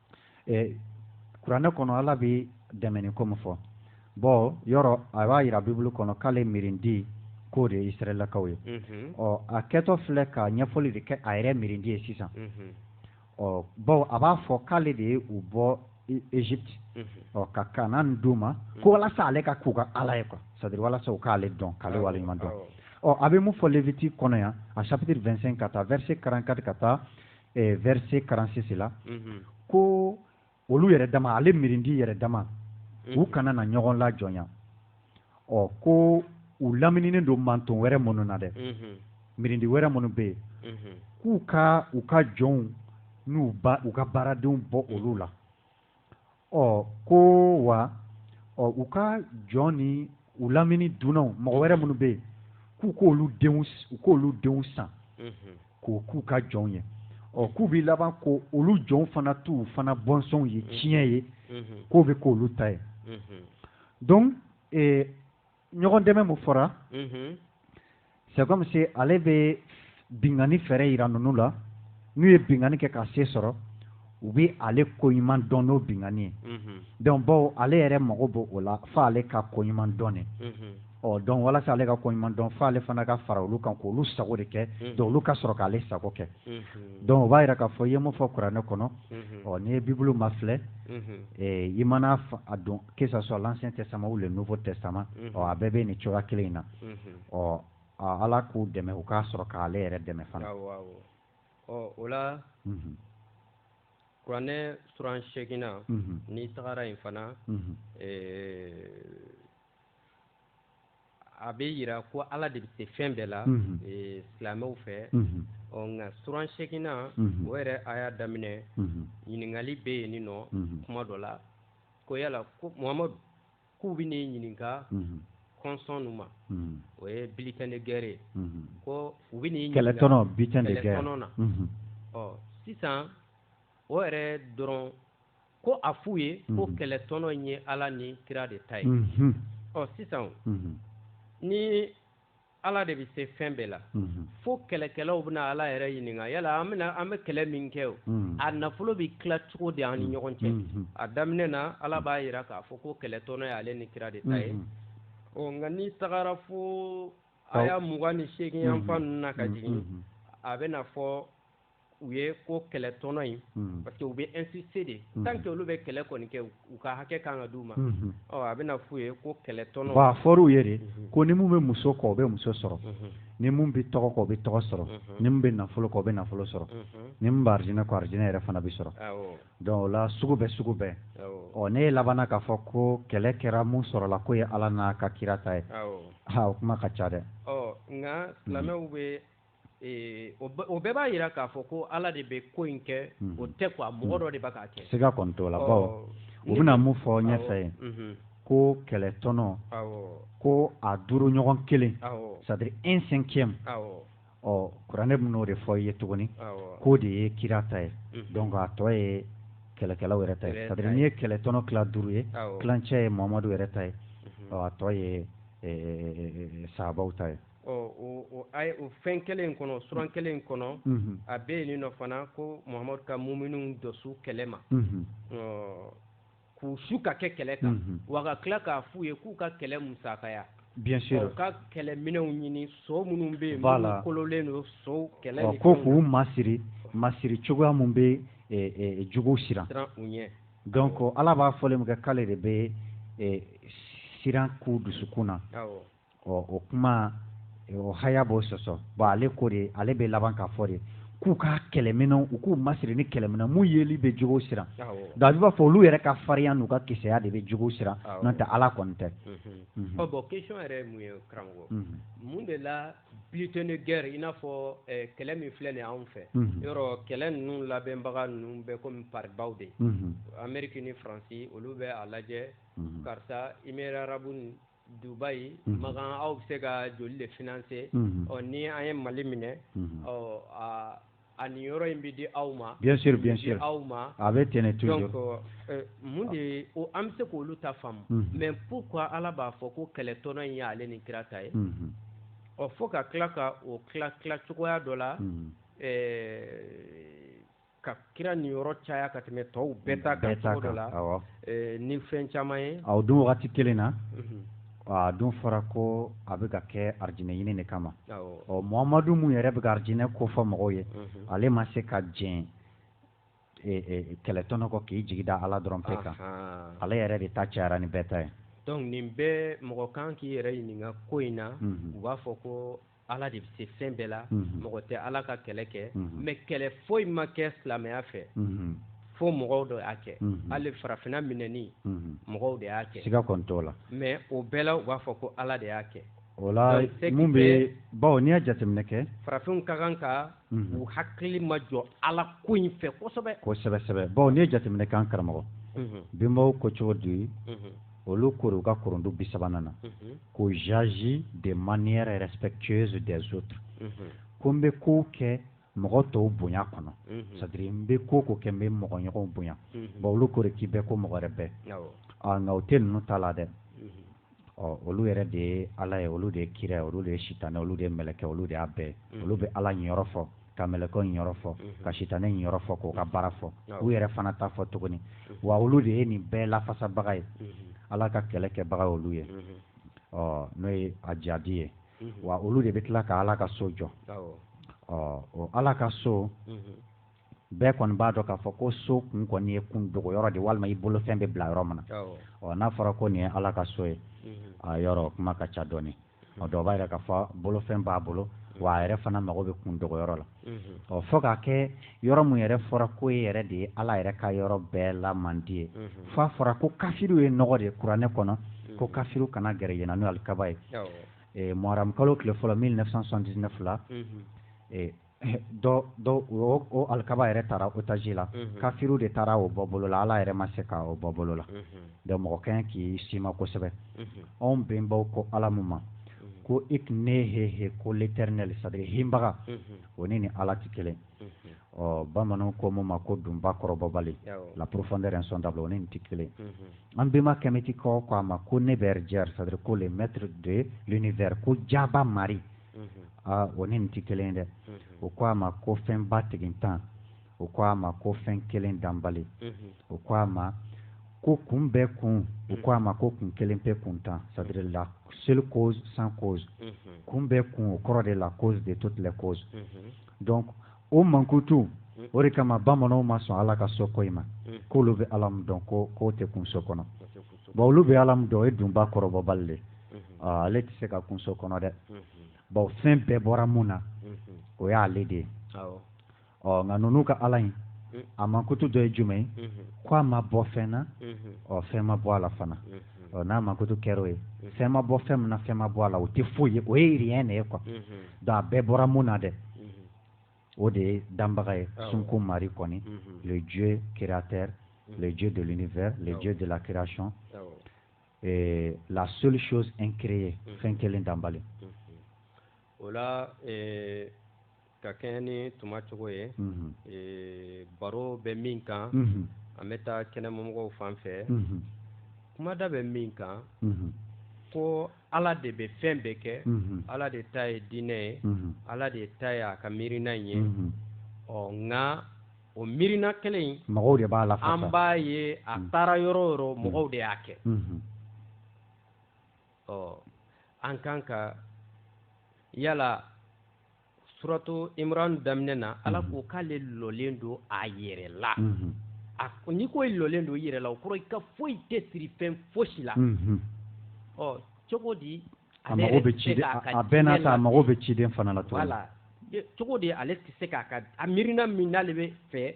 S1: ɛ kuranɛ kɔnɔ ala bɛ dɛmɛni ko min fɔ bɔn yɔrɔ a b'a jira bibulu kɔnɔ k'ale miirindi k'o de ye israɛlakaw ye ɔ a kɛtɔ filɛ ka ɲɛfɔli de kɛ a yɛrɛ miirindi ye sisan ɔ bawo a b'a fɔ k'ale de ye u bɔ egypte ɔ ka kanaan d'u ma ko walasa ale ka k'u ka ala ye quoi c'est-à-dire walasa u k'ale dɔn k'ale waleɲuman dɔn ɔ a bɛ mun fɔ lévitique kɔnɔ yan a chapitre 25 ka taa verset 44 ka taa eh, verset 46 la mhm. ko olu yɛrɛ dama ale mirindi yɛrɛ dama u mhm. kana na ɲɔgɔn lajɔnya ɔ ko u lamininen don manton wɛrɛ minnu na dɛ mhm. mirindi wɛrɛ minnu bɛ yen k'u ka u ka jɔnw n'u ba u ka baaradenw bɔ olu la ɔ ko wa ɔ u ka jɔn ni u lamini dunnaw mɔgɔ wɛrɛ minnu bɛ yen k'u k'olu denw u k'olu denw san mhm. k'o k'u ka jɔnw ye ɔ k'u bɛ laban k'olu jɔnw fana t'u fana bɔnsɔnw ye mhm. tiɲɛ ye mhm. k'o bɛ k'olu ta ye donc ee ɲɔgɔn dɛmɛ mun fɔra c'est comme si ale bɛ binkanni fɛɛrɛ yira ninnu la n'u ye binkanni kɛ ka se sɔrɔ u bɛ ale ko ɲuman dɔn n'o binkanni ye donc bawo ale yɛrɛ mago b'o la fo ale ka ko ɲuman dɔn de ɔ donc walasa ale ka ko ɲuman dɔn fo ale fana ka fara olu kan k'olu sago de kɛ donc olu ka sɔrɔ k'ale sago kɛ donc o b'a yira k'a fɔ i ye mun fɔ kuranɛ kɔnɔ ɔ n'i ye bibulu mafilɛ i mana a don que ça soit l'ancien testament ou le nouveau testament mhm. ɔ a bɛɛ bɛ nin cogoya kelen in na mhm. ɔ ala k'u dɛmɛ u ka sɔrɔ k'ale yɛrɛ dɛmɛ fana ɔ o la mhm. kuranɛ suran seegin na n'i tagara yen fana a bɛ jira ko ala de bɛ se fɛn bɛɛ la silamɛw fɛ ɔ nka suran seeginnan o yɛrɛ aya daminɛ ɲininkali bɛ yen nin nɔ kuma dɔ la ko yala ko muhamadu k'u bɛ ne ɲininka konson ma o ye butin de guerre ko u bɛ kɛlɛ na ɔ sisan o yɛrɛ dɔrɔn ko a f'u ye ko mhm. kɛlɛ tɔnɔ ye ala ni kira de ta ye mhm. ɔ sisan mhm. ni ala de bɛ se fɛn bɛɛ la fo kɛlɛkɛlaw bɛna ala yɛrɛ ɲininka yala an bɛna an bɛ kɛlɛ min kɛ o a nafolo bɛ tila cogo de an ni ɲɔgɔn cɛ a daminɛ na ala b'a jira k'a fɔ ko kɛlɛ tɔnɔ ye ale ni kira de ta ye ɔ nka n'i tagara fo aya mugan ni seegin yanfan ninnu na ka jigin a bɛna fɔ u ye ko kɛlɛ tɔnɔ in hmm. parce que u bɛ insiste de hmm. tant que olu bɛ kɛlɛ kɔni kɛ u ka hakɛ kan ka d'u ma hmm. ɔ a bɛna f'u ye ko kɛlɛ tɔnɔ a fɔr'u ye de ko ni mun bɛ muso kɔ o bɛ muso sɔrɔ ni mun bɛ tɔgɔ kɔ o bɛ tɔgɔ sɔrɔ ni mun bɛ nafolo kɔ o bɛ nafolo sɔrɔ ni mun bɛ arijinɛ kɔ arijinɛ yɛrɛ fana bɛ sɔrɔ donc o la sugu bɛɛ sugu bɛɛ ɔ n'i labanna k'a fɔ ko kɛlɛ kɛra mun sɔrɔla k'o ye ala n'a ka kira ta ye ha o kuma ka ca dɛ ɔ nka silamɛw bɛ o bɛɛ b'a jira k'a fɔ ko ala de bɛ ko in kɛ hmm. o tɛ a mɔgɔ dɔ de b'a kɛ se ka kɔntɔ la baw u bɛna mun fɔ ɲɛfɛ ye mhm. ko kɛlɛ tɔnɔ ko a duuru ɲɔgɔn kelen c'est-à-dire un cinquième ɔ kuranɛ bɛn'o de fɔ i ye tuguni k'o de ye kira ta ye mhm. donc a tɔ ye kɛlɛkɛlaw yɛrɛ ta ye c'est-à-dire n'i ye kɛlɛ tɔnɔ tila duuru ye tilancɛ ye muhamadu yɛrɛ ta ye mhm. a tɔ ye saabaw ta ye o fɛn kelen kɔnɔ suran kelen kɔnɔ a bɛ yen nin nɔ fana ko muhamadu ka muminuw dɔsu kɛlɛ ma k'u su ka kɛ kɛlɛ kan wa ka tila k'a f'u ye k'u ka kɛlɛ musaka bi u ka kɛlɛminɛnw ɲini so minnu bɛ yen lakololen don so kɛlɛ ko k'u masiri masiri cogoya minnu bɛ jugu siran u ɲɛ donc ala b'a fɔ min kɛ k'ale de bɛ siran k'u dusukun na ɔ o kuma o haya b'o sɔsɔ bon ale ko de ale bɛ laban k'a fɔ de k'u ka kɛlɛminɛnw u k'u masiri ni kɛlɛminɛn mun yeli bɛ jugu siran nka b'a fɔ olu yɛrɛ ka farinya n'u ka kisɛya de bɛ jugu siran n'o tɛ ala kɔni tɛ bon question yɛrɛ mun ye karamɔgɔ mun de la butin de guerre in n'a fɔ kɛlɛ min filɛ nin anw fɛ yɔrɔ kɛlɛ ninnu labɛnbaga ninnu bɛɛ kɔmi pabaa de ameriki ni faransi olu bɛ a lajɛ karisa i mi arabu dubayi makan aw bɛ se ka joli de financer ɔ ni an ye mali minɛ ɔ aw niyɔrɔ in bɛ di aw ma aw ma a bɛ tɛnɛn to mun de an bɛ se k'olu ta faamu mais pourquoi ala b'a fɔ ko kɛlɛ tɔnɔ in ye ale ni kira ta ye ɔ fo ka tila ka o tila cogoya dɔ la ka kira niyɔrɔ caya ka tɛmɛ tɔw bɛɛ ta kan cogo dɔ la ni fɛn caman ye a dun wagati kelen na a dun fɔra ko a bɛ ka kɛ arijinɛ ɲini de kama ɔ mohamadu min yɛrɛ bɛ ka arijinɛ ko fɔ mɔgɔw ye ale ma se ka diɲɛ kɛlɛtɔnɔ kɔ k'i jigi da ala dɔrɔn pe kan ale yɛrɛ de ta cayara ni bɛɛ ta ye donc nin bɛɛ mɔgɔ kan k'i yɛrɛ ɲininka ko in na u b'a fɔ ko ala de bɛ se fɛn bɛɛ la mhm. mɔgɔ tɛ ala ka kɛlɛ kɛ mhm. mais kɛlɛ foyi ma kɛ silamɛya fɛ mhm. fo mɔgɔw de y'a kɛ hali farafinna minɛni mɔgɔw de y'a kɛ siga kɔni t'o la mais o bɛɛ la u b'a fɔ ko ala de y'a kɛ o la mun bɛ bawo n'i y'a jateminɛ kɛ farafinw ka kan ka u hakili ma jɔ ala ko in fɛ kosɛbɛ kosɛbɛ sɛbɛ bawo n'i ye jateminɛ kɛ an karamɔgɔ bɛnbaw ko cogo di olu kori u ka kurundu bi sabanan na ko j'agis de manière respectueuse des autres ko n bɛ kow kɛ mɔgɔ tɔw bonya kɔnɔ c'est à dire n bɛ ko o ko kɛ n bɛ mɔgɔ ɲɔgɔn bonya bon olu kori k'i bɛ ko mɔgɔ wɛrɛ bɛ nka o tɛ ninnu ta la dɛ ɔ olu yɛrɛ de ye ala ye olu de ye kira ye olu de ye sitanɛ olu de ye mɛlɛkɛ olu de y'a bɛɛ olu bɛ ala niyɔrɔ fɔ ka mɛlɛkɛw niyɔrɔ fɔ mhm. ka sitanɛ niyɔrɔ fɔ k'u ka baara fɔ u yɛrɛ fana ta fɔ tuguni mhm. wa olu de ye nin bɛɛ lafasabaga ye mhm. ala ka kɛlɛ kɛbaga olu ye ɔ n'o ye jihadi ye wa olu de bɛ tila ka ala ka so jɔ ɔ o ala ka so bɛɛ kɔni b'a dɔn k'a fɔ ko so kun kɔni ye kun dogo yɔrɔ de walima i bolofɛn bɛ bila yɔrɔ min na ɔ n'a fɔra ko nin ye ala ka so ye a yɔrɔ kuma ka ca dɔɔnin o dɔ b'a jira k'a fɔ bolofɛn b'a bolo wa a yɛrɛ fana mago bɛ kun dogo yɔrɔ la ɔ fo k'a kɛ yɔrɔ min yɛrɛ fɔra ko yen yɛrɛ de ye ala yɛrɛ ka yɔrɔ bɛɛ la mandi ye fo a fɔra ko kafiriw ye nɔgɔ de ye kuranɛ kɔnɔ ko kafiriw kana gɛrɛ yen na n'o alikaba ye muharamukalo tile fɔlɔ 1979 la dɔ dɔ o o alikaba yɛrɛ taara otaji la kafiriw de taara o bɔ bolo la ala yɛrɛ ma se ka o bɔ bolo la donc mɔgɔ ka kan k'i sima kosɛbɛ anw bɛnbaw ko ala min ma ko e tun neheh ko l'éternel c'est à dire hbaga o ni nin ala tɛ kelen ɔ bamananw ko min ma ko dunba kɔrɔbɔbali la profondeur insondable o ni nin tɛ kelen an bɛnba kɛmɛtikaw ko a ma ko neberdjer c'est à dire ko le maître de l'univers ko jaaba maari aa o ni nin tɛ kelen dɛ o ko a ma ko fɛnba tigintan o ko a ma ko fɛn kelen danbali o ko a ma ko kun bɛɛ kun o ko a ma ko kun kelen pe kuntan c'est-à-dire la seule cause sans cause kun bɛɛ kun o kɔrɔ de la cause de toutes les causes donc o mankutu o de kama bamananw ma sɔn ala ka so ko in ma k'olu bɛ ala min dɔn ko k'o tɛ kun so kɔnɔ bon olu bɛ ala min dɔn o ye dunba kɔrɔbɔbali de ale tɛ se ka kun so kɔnɔ dɛ bon fɛn bɛɛ bɔra min na o y'ale de ye ɔ nka ninnu ka ala in a mankutu dɔ ye jumɛn ye ko a ma bɔ fɛn na ɔ fɛn ma bɔ a la fana ɔ n'a mankutu kɛra o ye fɛn ma bɔ fɛn min na fɛn ma bɔ a la o tɛ foyi ye o ye rien de ye quoi donc a bɛɛ bɔra min na dɛ o de ye danbaga ye sunko mari kɔni le dieu créateur le dieu de l'univers le dieu de la création eh, la seule chose incréée fɛn kelen danbali o la eh, ka kɛɲɛ ni tuma cogo ye eh, baro bɛ min kan an bɛ taa kɛnɛmamɔgɔw fan fɛ kumada bɛ min kan ko ala de bɛ fɛn bɛɛ kɛ ala de ta ye diinɛ ye ala de ta ye a ka miirina ye ɔ nka o miirina kelen in mɔgɔw de b'a la an b'a ye a taara yɔrɔ yɔrɔ mɔgɔw de y'a kɛ ɔ an kan ka yala suratu imran daminɛ na ala ko k'ale lɔlen don a yɛrɛ la n'i ko i lɔlen don i yɛrɛ la o kɔrɔ i ka foyi tɛ siri fɛn fosi la ɔ cogo di a mago bɛ ciden a bɛɛ n'a ta a mago bɛ ciden fana la cogo di ale tɛ se k'a ka a miirina min n'ale bɛ fɛ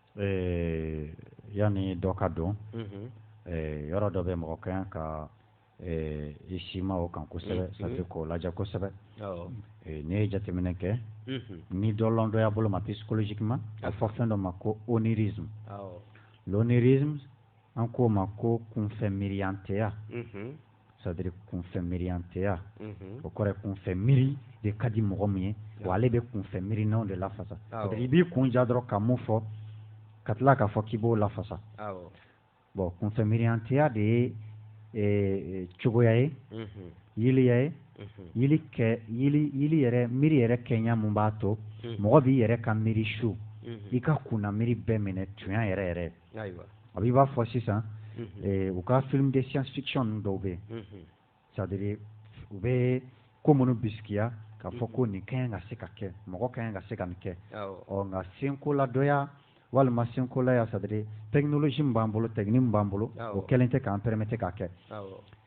S1: ee yanni dɔ ka don ee yɔrɔ dɔ bɛ mɔgɔ ka kan ka ee i sima o kan kosɛbɛ c'est-à-dire k'o lajɛ kosɛbɛ ee n'i ye jateminɛ kɛ nidɔlɔndɔya bolo ma psychologiquement a fɔ fɛn dɔ ma ko onirisme l'onirisme an k'o ma ko kunfɛ miiriyanteya c'est-à-dire kunfɛ miiriyanteya o kɔrɔ kunfɛ miiri de ka di mɔgɔ min ye wa ale bɛ kunfɛ miirinaw de lafasa i b'i kun ja dɔrɔn ka min fɔ ka tila k'a fɔ k'i b'o lafasa bon kunfɛ miiriyanteya de ye e, cogoya ye yeliya ye yeli kɛ yeli yɛrɛ miiri yɛrɛ kɛɲa min b'a to mɔgɔ b'i yɛrɛ ka miiri su i ka kunna miiri bɛɛ minɛ tuɲa yɛrɛ yɛrɛ a b'i b'a fɔ sisan u ka film de science-fiction dɔw bɛ yen c'est-à-dire u bɛ ko minnu bisigiya k'a fɔ ko nin ka kan ka se ka kɛ mɔgɔ ka kan ka se ka nin kɛ ɔ nka senkoladɔya walima senkolaya c'est-à-dire technologie min b'an bolo technique min b'an bolo o kɛlen tɛ k'an permettre k'a kɛ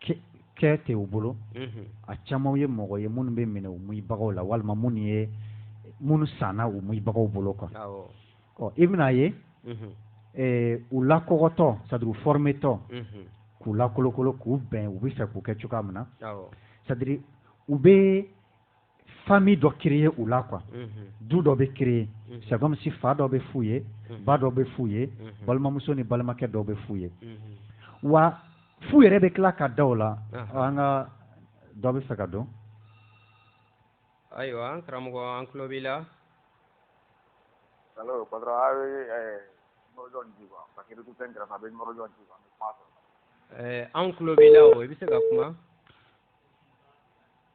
S1: kɛ tɛ u bolo a caman ye mɔgɔ ye minnu bɛ minɛ u moyibagaw la walima minnu ye minnu sanna u moyibagaw bolo kan ɔ i bɛna a ye u lakɔgɔtɔ c'est à dire fɔrmetɔ k'u lakolokolo k'u bɛn u bɛ fɛ k'u kɛ cogoya min na c'est à dire u bɛ famille dɔ créer u la quoi du dɔ bɛ créer c'est comme si fa dɔ bɛ f'u ye ba dɔ bɛ f'u ye balimamuso ni balimakɛ dɔ bɛ f'u ye wa f'u yɛrɛ bɛ tila ka da a la nka dɔ bɛ fɛ k'a dɔn ayiwa an karamɔgɔ an tulo b'i la an tulo b'i la o i bɛ se ka kuma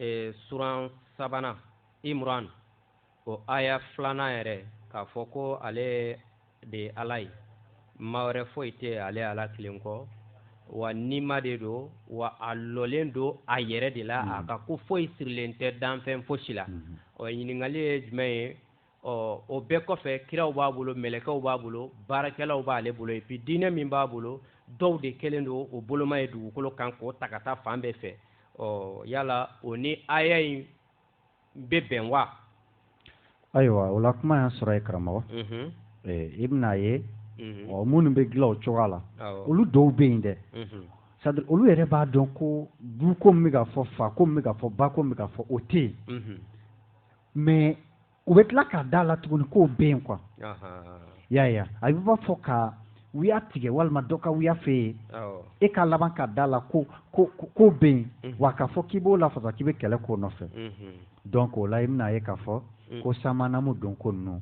S1: ee suran sabanan imran o aya filanan yɛrɛ k'a fɔ ko ale de ye ala ye ma wɛrɛ foyi tɛ ale ala kelen kɔ wa nima de don wa a lɔlen don a yɛrɛ de la a mm-hmm. ka ko foyi sirilen tɛ danfɛn fosi la mm-hmm. ɔ ɲininkali ye jumɛn ye ɔ o bɛɛ kɔfɛ kiraw b'a bolo mɛlɛkɛw b'a bolo baarakɛlaw b'ale bolo et puis diinɛ min b'a bolo dɔw de kɛlen don o boloma ye dugukolo kan k'o ta ka taa fan bɛɛ fɛ ɔ yala o ni aya in bɛ bɛn wa ayiwa o la kuma y'a sɔrɔ ye karamɔgɔ mhm. i bɛna a ye mhm. ɔ minnu bɛ dilan o cogoya la olu dɔw bɛ yen dɛ mhm. c'est à dire olu yɛrɛ b'a dɔn ko du ko min bɛ ka fɔ fa ko min bɛ ka fɔ ba ko min bɛ ka fɔ o tɛ yen mais u bɛ tila ka da a la tuguni k'o bɛ yen quoi y'a ye a b'i b'a fɔ ka wuya tigɛ walima dɔ ka wuya f'e ye e ka laban ka da a la ko ko k'o bɛ yen mhm. wa k'a fɔ k'i b'o lafasa k'i bɛ kɛlɛ k'o nɔfɛ mhm. donc o la i bɛna a ye k'a fɔ mhm. ko samanamu don ko ninnu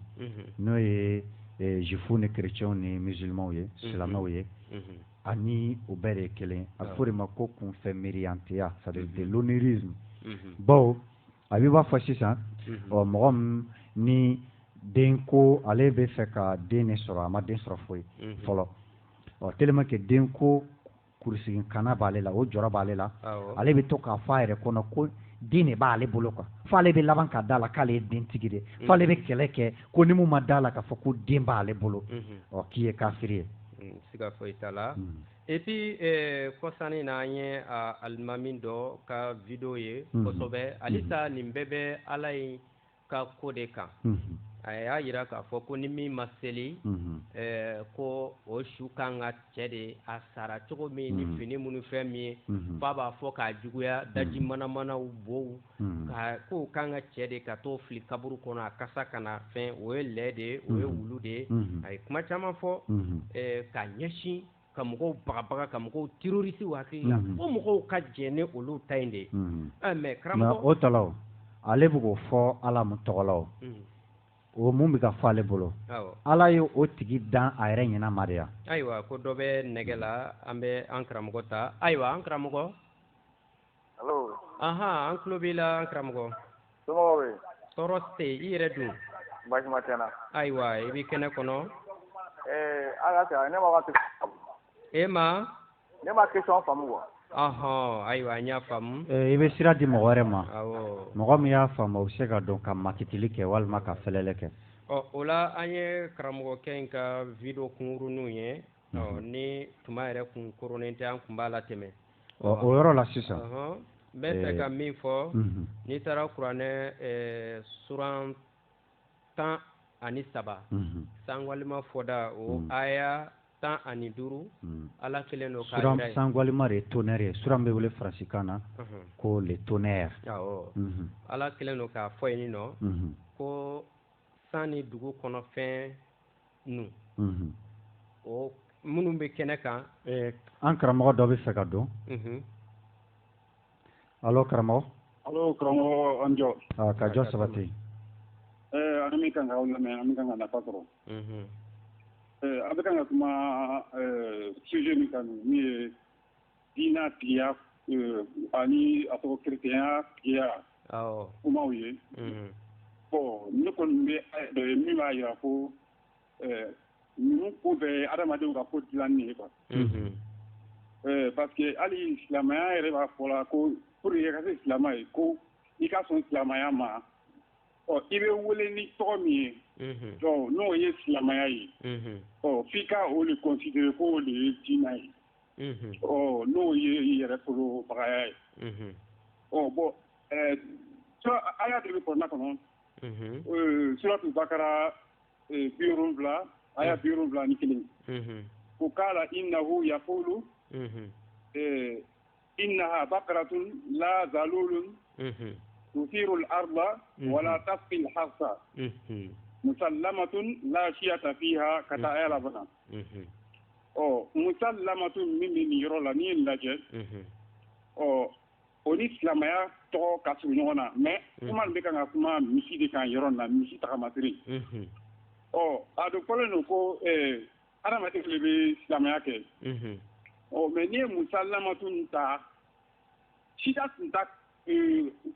S1: n'o ye eh, juifs ni chrétiens ni musulmans ye silamɛw ye ani u bɛɛ de ye kelen a bɛ fɔ o de ma ko kunfɛ miiriyanteya c'est à dire de l'onirisme bawo a b'i b'a fɔ sisan ɔ mɔgɔ min ni den ko ale bɛ fɛ ka den de sɔrɔ a ma den sɔrɔ foyi fɔlɔ ɔ telima kɛ den ko kurusigin kana b'ale la o jɔrɔ b'ale la ale bɛ to k'a fɔ a yɛrɛ kɔnɔ ko den de b'ale bolo quoi f'ale bɛ laban ka da a la k'ale ye den tigi de f'ale bɛ kɛlɛ kɛ ko ni min ma da a la k'a fɔ ko den b'ale bolo ɔ k'i ye kafiri ye et puis eh, kɔsa in na an ye ah, alimami dɔ ka video ye mhm. kosɛbɛ mhm. halisa nin bɛɛ bɛ ala ye ka ko de kan mhm. a y'a yira k'a fɔ ko ni min ma seli eh, ko o su kan ka cɛ de a sara cogo min ni fini minnu fɛn min ye f'a b'a fɔ k'a juguya daji manamanaw bow Hmm. Ka ko k'an k'a cɛ de ka t'o fili kaburu kɔnɔ a kasa kana fɛn o ye lɛ de ye o ye hmm. wulu de ye hmm. a ye kuma caman fɔ eh, ka ɲɛsin ka mɔgɔw bagabaga ka mɔgɔw terroriser hakili la fo mɔgɔw ka jɛn ni olu ta in de ye eh, mais karamɔgɔ o talaw ale bɛ k'o fɔ Ala mun tɔgɔ la o o min bɛ ka fɔ ale bolo Ala ye o tigi dan a yɛrɛ ɲɛna ma de ya ayiwa ko dɔ bɛ nɛgɛ la an bɛ an karamɔgɔ ta ayiwa an karamɔgɔ Aɔn an tulo b'i la karamɔgɔ tɔɔrɔ tɛ i yɛrɛ don ayiwa i bɛ kɛnɛ kɔnɔ e ma ahɔn ayiwa an y'a faamumu i bɛ sira di mɔgɔ wɛrɛ ma mɔgɔ min y'a faamu o bɛ se ka don ka makili kɛ walima ka fɛlɛlɛ kɛ ɔ o la an ye karamɔgɔkɛ in ka vidéo kunkurunw ye ni tuma yɛrɛ kunkurunnin tɛ an tun b'a latɛmɛ o yɔrɔ la sisan n bɛ se ka min fɔ n'i taara kuranɛ suran tan ani saba sankalima fɔda o aya tan ani duuru ala kelen don sankalima de tonnerre suran bɛ wele faransikan na ko le tonnerre ala kɛlen don k'a fɔ ye nin nɔ ko san ni dugu kɔnɔfɛn ninnu o minnu bɛ kɛnɛ kan an karamɔgɔ dɔ bɛ fɛ ka don allô karamɔgɔ allô karamɔgɔ an jɔ ka jɔ sabati an bɛ kan ka aw lamɛn an bɛ kan ka nafa sɔrɔ a bɛ ka kuma sujet min kan min ye diinɛ tigiya ani a tɔgɔ chrétien ya tigiya kumaw ye ne kɔni bɛ dɔ ye min b'a jira ko ninnu ko bɛɛ ye adamadenw ka ko dilannen ye quoi parce que hali silamɛya yɛrɛ b'a fɔ la ko pour que i ka kɛ silamɛ ye ko i ka sɔn silamɛya ma ɔ i bɛ wele ni tɔgɔ min ye donc n'o ye silamɛya ye ɔ f'i ka o de considérer k'o de ye diinɛ ye n'o ye yɛrɛ baga ye bɔn a y'a deli kɔnɔna kɔnɔ surat Baqara bi fila aya bi wolonwula ni kelen qala innahu yaqulu innaha baqaratun la zalulun tusirul arda wala tasqil harsa musallamatun la shiyata fiha ka taa aya laban na ɔ musalamatun min bɛ nin yɔrɔ la n'i ye nin lajɛ ɔ o ni silamɛya tɔgɔ ka surun ɲɔgɔn na mais kuma bɛ kan ka kuma misi de kan yɔrɔ na misi tagamasiri ɔ a dɔn fɔlen don ko adamaden de bɛ silamɛya kɛ ɔ mais n'i ye musalamatun nin ta sida tun t'a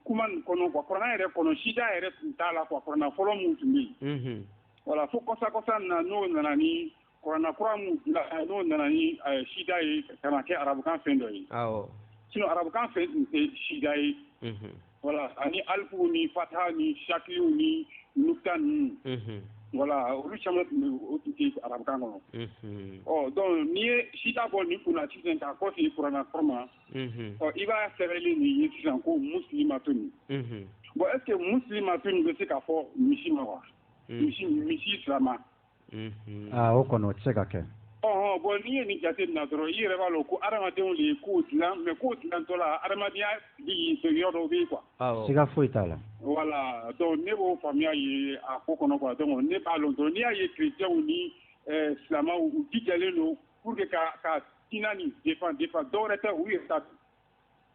S1: kuma nin kɔnɔ quoi kuranɛ yɛrɛ kɔnɔ sida yɛrɛ tun t'a la quoi kuranɛ fɔlɔ min tun bɛ yen voilà fo kɔsa kɔsa na n'o nana ni Kuranɛ kura min bila n'o nana ni sida ye ka na kɛ arabukan fɛn dɔ ye, awɔ, sinon arabukan fɛn tun tɛ sida ye, unhun, voila ani alifuw ni fatahaw ni sakiliw ni nukita ninnu, unhun, voila olu caman tun bɛ yen o tun tɛ arabukan kɔnɔ, unhun, ɔ donc n'i ye sida bɔ nin kun na sisan k'a kɔsegin kuranɛ kura ma, unhun, ɔ i b'a sɛbɛnni de ye sisan ko musilimatun, unhun, bon est ce que musilimatun bɛ se ka fɔ misi ma wa? misi misi silama o kɔnɔ o tɛ se ka kɛ bon n'i ye nin jateminɛ dɔrɔn i yɛrɛ b'a dɔn ko hadamadenw de ye ko dilan mais ko dilantɔ la hadamadenya yɔrɔ dɔ bɛ yen quoi siga foyi t'a la voilà donc ne b'o faamuya ye a ko kɔnɔ donc ne b'a dɔn dɔrɔn n'i y'a ye chrétienw ni silamɛw u jijalen don pour que ka diinɛ nin défendre fɛn dɔwɛrɛ tɛ u yɛrɛ ta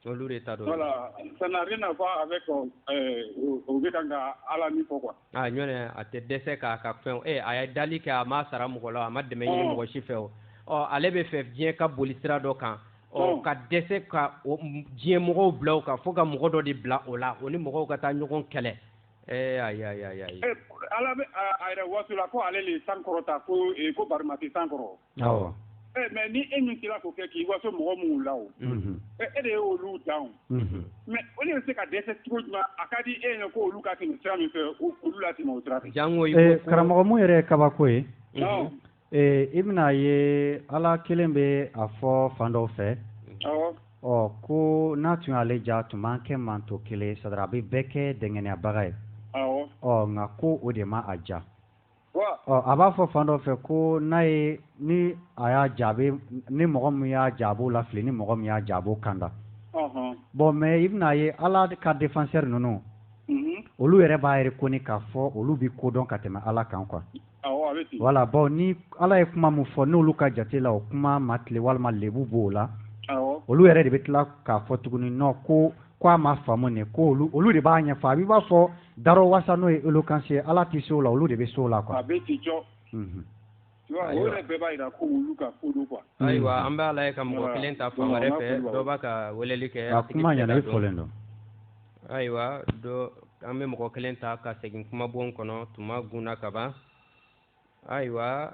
S1: olu de ta don voilà ça n'a rien à voir avec o bɛ kan ka Ala min fɔ quoi a ɲɔnɛ a tɛ dɛsɛ k'a ka fɛnw e a ye dali kɛ a ma sara mɔgɔ la a ma dɛmɛ ɲini mɔgɔ si fɛ o ɔ ale bɛ fɛ diɲɛ ka boli sira dɔ kan ɔ ka dɛsɛ ka diɲɛ mɔgɔw bila o kan fo ka mɔgɔ dɔ de bila o la o ni mɔgɔw ka taa ɲɔgɔn kɛlɛ ee ayi ayi ayi ayi Ala bɛ a yɛrɛ waso la ko ale le ye san kɔrɔta ko ko bari ma se san kɔrɔ awɔ eh, mais ni e min sera k'o kɛ k'i waso mɔgɔ minnu la o mhm. eh, e de ye olu dan mhm. mais o de bɛ se ka dɛsɛ cogo jumɛn a ka di e ye ko olu ka tɛmɛ sira min fɛ olu latɛmɛ o sira fɛ jango eh, karamɔgɔ min yɛrɛ ye kabako ye i bɛna a ye ala kelen bɛ a fɔ fan dɔw fɛ ɔ ko n'a tun y'ale diya tun b'an kɛ mantɔn kelen sadara a bɛ bɛɛ kɛ dɛngɛnɛyabaga ye ɔ nka ko o de ma a diya ɔ a b'a fɔ fan dɔ fɛ ko n'a ye ni a y'a diya a bɛ ni mɔgɔ min y'a diya a b'o lafili ni mɔgɔ min y'a diya a b'o kanda bon mais i bɛna a ye ala ka défenseur ninnu olu yɛrɛ b'a yira ko k'a fɔ olu bɛ ko dɔn ka tɛmɛ ala kan quoi voilà bon ni ala ye kuma min fɔ n'olu ka jate la o kuma ma tilen walima lebu b'o la olu yɛrɛ de bɛ tila k'a fɔ tuguni non ko k ko a ma faamu de ko olu de b'a ɲɛ ɲɛfɔ a b'a fɔ Darɔwasa n'o ye éloquence ye ala tɛ se o la olu de bɛ se o la quoi a bɛ ten cɔ unhun tu vois o Ayiwa. yɛrɛ bɛɛ b'a jira ko olu ka kodɔn quoi ayiwa an b'a lajɛ ka mɔgɔ Voilà. kelen ta fan wɛrɛ Voilà, fɛ n'a fɔ dɔ b'a ka weleli kɛ a a tigi kuma bɛ se ɲɛna ka i dɔn fɔlen don ayiwa dɔ an bɛ mɔgɔ kelen ta ka segin kumabon kɔnɔ tuma gunna ka ban ayiwa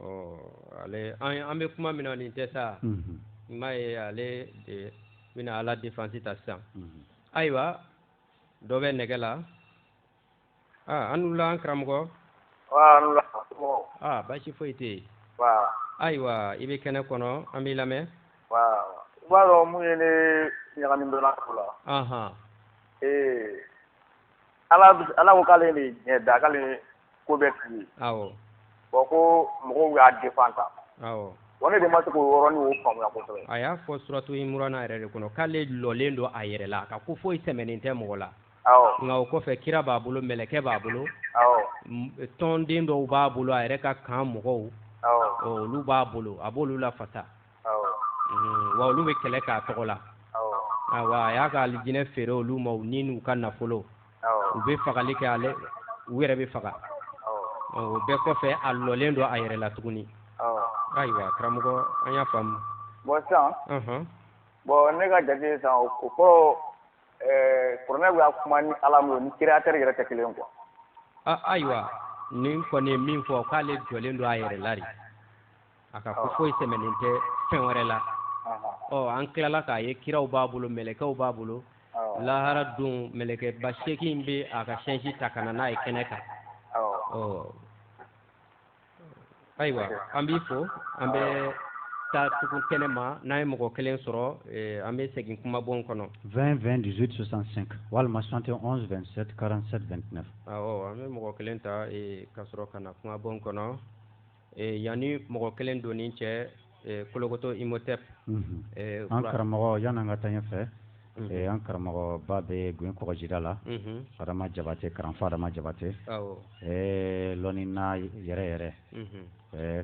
S1: ɔ ale an an bɛ kuma min na nin tɛ sa i m'a ye ale de bɛna ala defansi ta sisan ayiwa dɔ bɛ nɛgɛ la aa aw ni wula an karamɔgɔ aa baasi foyi tɛ yen ayiwa i bɛ kɛnɛ kɔnɔ an b'i lamɛn i b'a dɔn mun ye ne ɲagami dɔɔnin a ko la ee ala ko k'ale de diɲɛ da k'ale ko bɛ fili bɔn ko mɔgɔw y'a defansi ta wa ne de ma se k'o yɔrɔ faamuya a y'a fɔ suratu imurana yɛrɛ de kɔnɔ k'ale lɔlen don a yɛrɛ la ka ko foyi sɛmɛnen tɛ mɔgɔ la nka o kɔfɛ kira b'a bolo mɛlɛkɛ b'a bolo tɔnden dɔw b'a bolo a yɛrɛ ka kan mɔgɔw olu b'a bolo a b'olu lafasa wa olu bɛ kɛlɛ k'a tɔgɔ la a y'a ka alijinɛ feere olu ma u ni n'u ka nafolo u bɛ fagali kɛ ale u yɛrɛ bɛ faga o bɛɛ kɔfɛ a lɔlen don a yɛrɛ la tuguni ayiwa karamɔgɔ an y'a faamu bɔn sisan bɔn ne ka jate san o kɔrɔ kuranɛ bɛ kuma ni ala min ni créateur yɛrɛ tɛ kelen ko wa ayiwa nin kɔni ye min fɔ k'ale jɔlen don a yɛrɛ la de a ka ko foyi sɛmɛnen tɛ fɛn wɛrɛ la ɔ an tilala k'a ye kiraw b'a bolo mɛlɛkɛw b'a bolo lahara don mɛlɛkɛba seegin bɛ a ka sɛsi ta ka na n'a ye kɛnɛ kan ɔ ayiwa an b'i fo an bɛ taa tugu kɛnɛma n'an ye mɔgɔ kelen sɔrɔ eh, an bɛ segin kumabon kɔnɔ. 20 20 18 65 walima 71 27 47 29. awɔ an bɛ mɔgɔ kelen ta eh, ka sɔrɔ ka na kumabon kɔnɔ. yanni mɔgɔ kelen don ni cɛ kolokoto imhotep an karamɔgɔ yan an ka taa yen fɛ an karamɔgɔba bɛ g kɔɔgɔjida la adama jabatɛ karanfa adama jabatɛ dɔnnina yɛrɛ yɛrɛ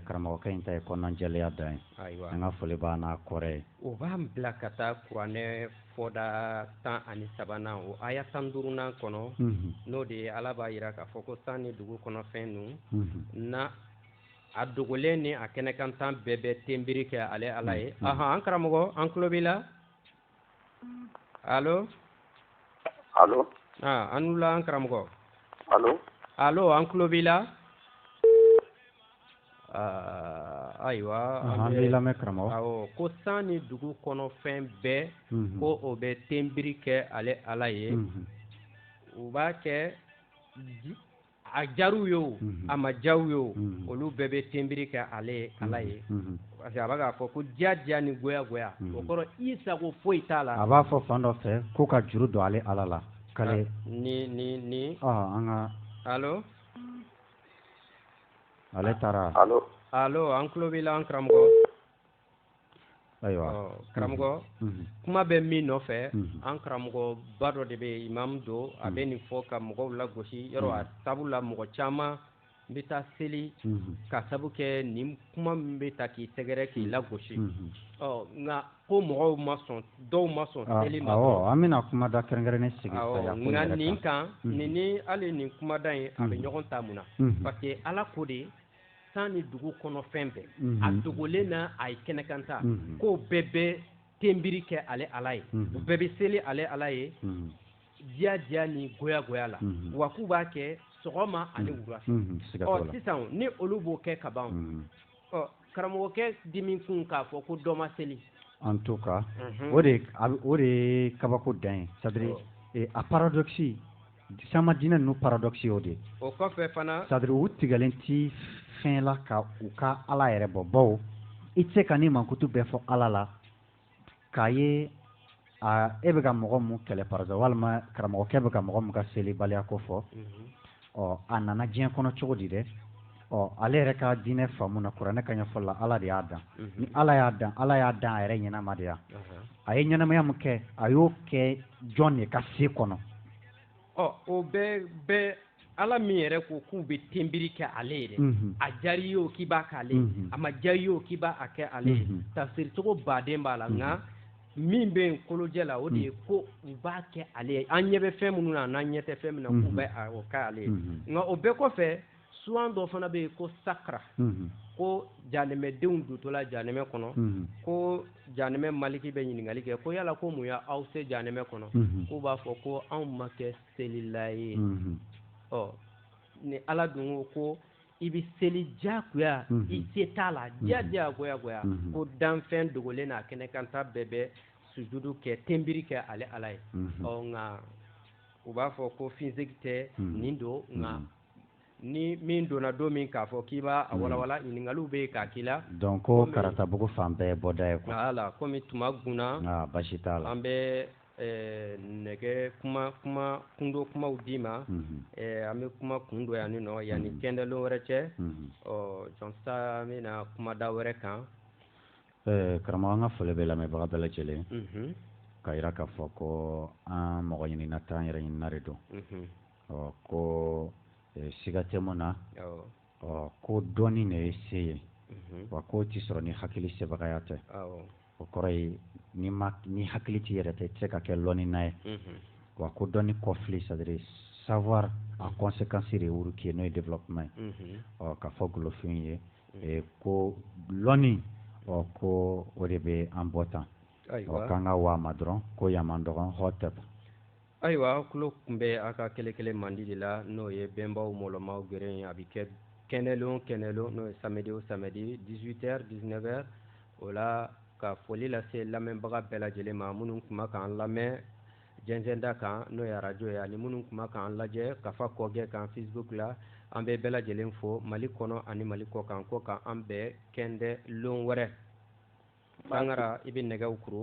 S1: karamɔgɔkɛ in ta ye kɔnɔnajɛya de ye an ka foli b'a n'a kɔrɔ ye o b'an bila ka taa kuranɛ fɔda tan ani sabanan o aya tan duurunan kɔnɔ n'o de ye ala b'a jira k'a fɔ ko san ni dugu kɔnɔfɛn ninnu na a dogolen ni a kɛnɛkanta bɛɛ bɛ ten biri kɛ ale ala ye aɔn an karamɔgɔ an tulo b'i la alo aw ni wula an karamɔgɔ an tulo b'i la Ayiwa n lamɛn karamɔgɔ ko san ni dugu kɔnɔ fɛn bɛɛ ko o bɛ ten biri kɛ ale ala ye u b'a kɛ a diyara u ye a ma diya u ye olu bɛɛ bɛ ten biri kɛ ale ala ye parce que a bɛ k'a fɔ ko diyadiya ni goyagoya o kɔrɔ i sago foyi t'a la a b'a fɔ fan dɔ fɛ ko ka juru don ale ala la ka ni ni an ka ale taara alo alo an tulo b'i la an karamɔgɔ ayiwa karamɔgɔ mhm. kuma bɛ min nɔfɛ mhm. an karamɔgɔba dɔ de bɛ imamu don a bɛ mhm. nin fɔ ka mɔgɔw lagosi yɔrɔ a sabu la mɔgɔ caman bɛ taa seli ka sabu kɛ nin kuma min bɛ ta k'i sɛgɛrɛ k'i lagosi ɔ nka ko mɔgɔw ma sɔn dɔw ma sɔn ah, seli ma an bɛna kumada kɛrɛnkɛrɛnnen sigi nka nin kan mhm. nin ni hali nin kumada in a bɛ mhm. ɲɔgɔn ta mun na mhm. parce que ala ko de san ni dugu kɔnɔ fɛn bɛɛ a dogolen n'a kɛnɛkanta k'o bɛɛ bɛ tenbiri kɛ ale ala ye u bɛɛ bɛ seli ale ala ye diya diya ni goya goya la wa k'u b'a kɛ sɔgɔma ani wula ɔ sisan ni olu b'o kɛ ka ban ɔ karamɔgɔkɛ dimi kun k'a fɔ ko dɔ ma seli en tout cas mhm. o de o de ye kabako dan ye c'est à dire eh, a paradoxe sama diinɛ ninnu paradoxe y'o de o kɔfɛ fana c'est à dire u tigɛlen ti fɛn la ka u ka ala yɛrɛ bɔ bawo i tɛ se ka nin mankutu bɛɛ fɔ ala la k'a ye e bɛ ka mɔgɔ min kɛlɛ par exemple walima karamɔgɔkɛ bɛ ka mɔgɔ min ka selibaliya ko fɔ mhm. ɔ a nana diɲɛ kɔnɔ cogo di dɛ ɔ ale yɛrɛ ka diinɛ faamu na kuranɛ ka ɲɛfɔ la ala de y'a dan mhm. ni ala y'a dan ala y'a dan a yɛrɛ ɲɛnama de yan a ye ɲɛnamaya min kɛ a y'o kɛ jɔn de ka se kɔnɔ ɔ o bɛɛ bɛɛ ala min yɛrɛ ko k'u bɛ tenbiri kɛ ale ye dɛ mhm. a diyara i ye o k'i b'a k'ale mhm. a ma diya i ye o k'i b'a a kɛ ale ye mhm. tafsiri cogo baden b'a la nka min bɛ yen kolojɛ la o de ye ko u b'a kɛ ale ye an ɲɛ bɛ fɛn minnu na n'an ɲɛ tɛ fɛn min na k'u bɛ o kɛ ale ye nka o bɛɛ kɔfɛ suran dɔ fana bɛ yen ko sakara ko janɛmɛdenw dontɔla janɛmɛ kɔnɔ ko janɛmɛ maliki bɛ ɲininkali kɛ ko yala ko mun ye aw se janɛmɛ kɔnɔ k'u b'a fɔ ko anw ma kɛ selila ye ɔ ni ala dun ko ko i bɛ seli diyagoya i se t'a la diya diya goya goya ko danfɛn dogolen n'a kɛnɛkanta bɛɛ bɛ sujudu kɛ tenbiri kɛ ale ala ye ɔ nka u b'a fɔ ko physique tɛ nin don nka ni min donna don min k'a fɔ k'i b'a hmm. walawala ɲininkaliw bɛ yen k'a k'i la dɔn ko karatabugu fan bɛɛ bɔda ye ko ala kɔmi tuma gna basi t'a la an bɛ Ɛɛ ne bɛ kuma kuma kundon kumaw d'i ma an bɛ kuma kun don yan ni nɔ yan ni kɛnɛ wɛrɛ cɛ ɔ jaasa an bɛna na kumada wɛrɛ kan ɛɛ karamɔgɔ an ka foli bɛ lamɛnbaga bɛɛ lajɛlen ka jira k'a fɔ ko an mɔgɔ ɲinina tɛ an yɛrɛ ɲinina de don ɔ ko siga tɛ min na ɔ ko dɔnni de ye se ye wa k'o tɛ sɔrɔ ni hakili sebagaya tɛ o kɔrɔ ye ni ma ni hakili t'i yɛrɛ ta tɛ se ka kɛ lɔni n'a ye wa ko dɔnni kɔfili c'est-à-dire savoir a conséquence de wuruki ye n'o ye développement ye ɔ k'a fɔ golofin ye ko lɔni ɔ ko o de bɛ an bɔ tan ɔ k'an ka waa dɔrɔn ko ya dɔgɔtɔrɔn hotep ayiwa tulo kun bɛ a ka kɛlɛkɛlɛ mandi de la n'o ye bɛnbaw mɔlɔmaw gɛrɛ ye a bɛ kɛ kɛnɛlon kɛnɛlon n'o ye samedi o samedi 18 heures 19 heures o la ka foli lase lamɛnbaga bɛɛ lajɛlen ma minnu tun bɛ k'an lamɛn jɛnsɛnda kan n'o ye arajo ye ani minnu tun bɛ k'an lajɛ kafa kɔgɛ kan facebook la an bɛ bɛɛ lajɛlen fo mali kɔnɔ ani mali kɔkan ko k'an bɛn kɛndɛlon wɛrɛ sangara i bɛ nɛgɛw kuru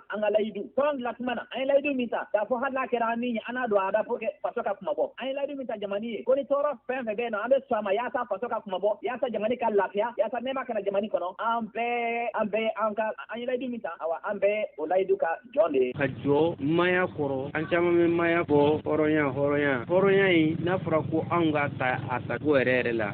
S1: an ka layidu tɔn dilan tuma na an ye layidu min ta k'a fɔ hali n'a kɛra an ni ye an n'a don a da pour que faso ka kunmabɔ an ye layidu min ta jamani ye ko ni tɔɔrɔ fɛn fɛn bɛ yen nɔ an bɛ sɔn a ma yaasa faso ka kunmabɔ yaasa jamani ka lafiya yaasa nɛɛma ka na jamani kɔnɔ an bɛɛ an bɛɛ an ka an ye layidu min ta awa an bɛɛ o layidu ka jɔn de ye ka jɔ maaya kɔrɔ an caman bɛ maaya bɔ hɔrɔnya hɔrɔnya hɔrɔnya in n'a fɔra ko anw k'a ta a tacogo yɛrɛ yɛrɛ la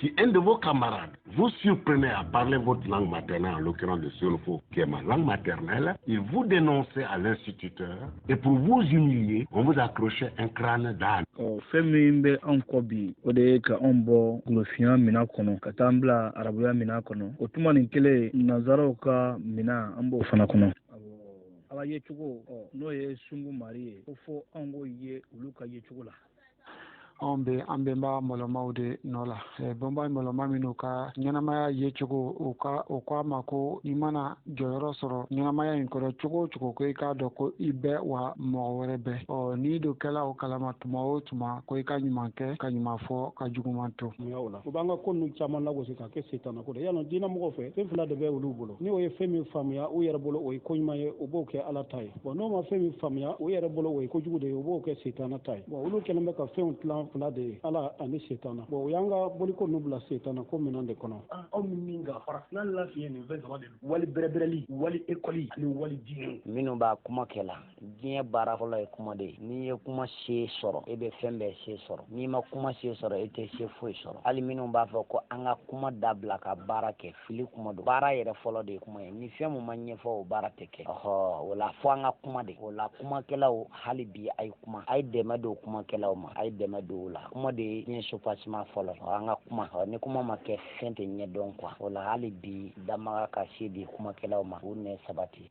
S1: Si un de vos camarades vous surprenait à parler votre langue maternelle, en l'occurrence le sénoufo, qui est ma langue maternelle, il vous dénonçait à l'instituteur et pour vous humilier, on vous accrochait un crâne d'âne. Oh, fɛn min bɛ anw kɔ bi o de ye ka anw bɔ golofinya mina kɔnɔ ka taa an bila arabuya mina kɔnɔ o tuma nin kelen nanzaraw ka mina an b'o fana kɔnɔ ala yecogo n'o ye sungu mari ye ko fɔ anw k'o ye olu ka yecogo la anw bɛ an bɛnba mɔlɔmaw de nɔ la bɛnba mɔlɔma minnu ka ɲɛnamaya yecogo u ka o k ko a ma ko i mana jɔyɔrɔ sɔrɔ ɲɛnamaya in kɔnɔ cogo o cogo ko i k'a dɔn ko i bɛ yen wa mɔgɔ wɛrɛ bɛ yen ɔ n'i dun kɛla o kalama tuma o tuma ko i ka ɲuman kɛ ka ɲuman fɔ ka juguman to u b'an ka ko ninnu caman lagosi ka kɛ setana ko dɛ yala diinɛ mɔgɔw fɛ fɛn fila de bɛ olu bolo n'o ye fɛn min faamuya u yɛrɛ bolo o ye ko ɲuman ye u b'o kɛ ala ta ye bɔn n'u ma fɛn min faamuya u yɛrɛ bolo o ye kojugu de ye u b'o kɛ setana ta ye bɔn olu kɛlen bɛ ka fɛnw tilan fila de ye ala ani setana bɔn u y'an ka boliko nu bila setana ko minɛn de kɔnɔ aw min min ka farafina lafiɲɛ nin fɛn saba de don wali bɛrɛbɛrɛli wali ekɔli ani wali diinɛ minnu b'a kuma kɛ la diɲɛ baara fɔlɔ ye kuma de ye n'i ye kuma se sɔrɔ e bɛ fɛn bɛɛ se sɔrɔ n'i ma kuma se sɔrɔ e tɛ se foyi sɔrɔ hali minnu b'a fɔ ko an ka kuma dabila ka baara kɛ fili kuma don baara yɛrɛ fɔlɔ de ye kuma ye ni fɛn min ma ɲɛfɔ o baara tɛ kɛ ɔhɔ o la fɔ an ka kuma de o la kumakɛlaw hali bi a ye kuma a ye dɛmɛ don kumakɛlaw ma a ye dɛmɛ don u la kuma de ye diɲɛ soubassement fɔlɔ ye an ka kuma ɔ ni kuma ma kɛ fɛn tɛ ɲɛdɔn quoi o la hali bi danbaga ka se di kumakɛlaw ma u nɛn sabati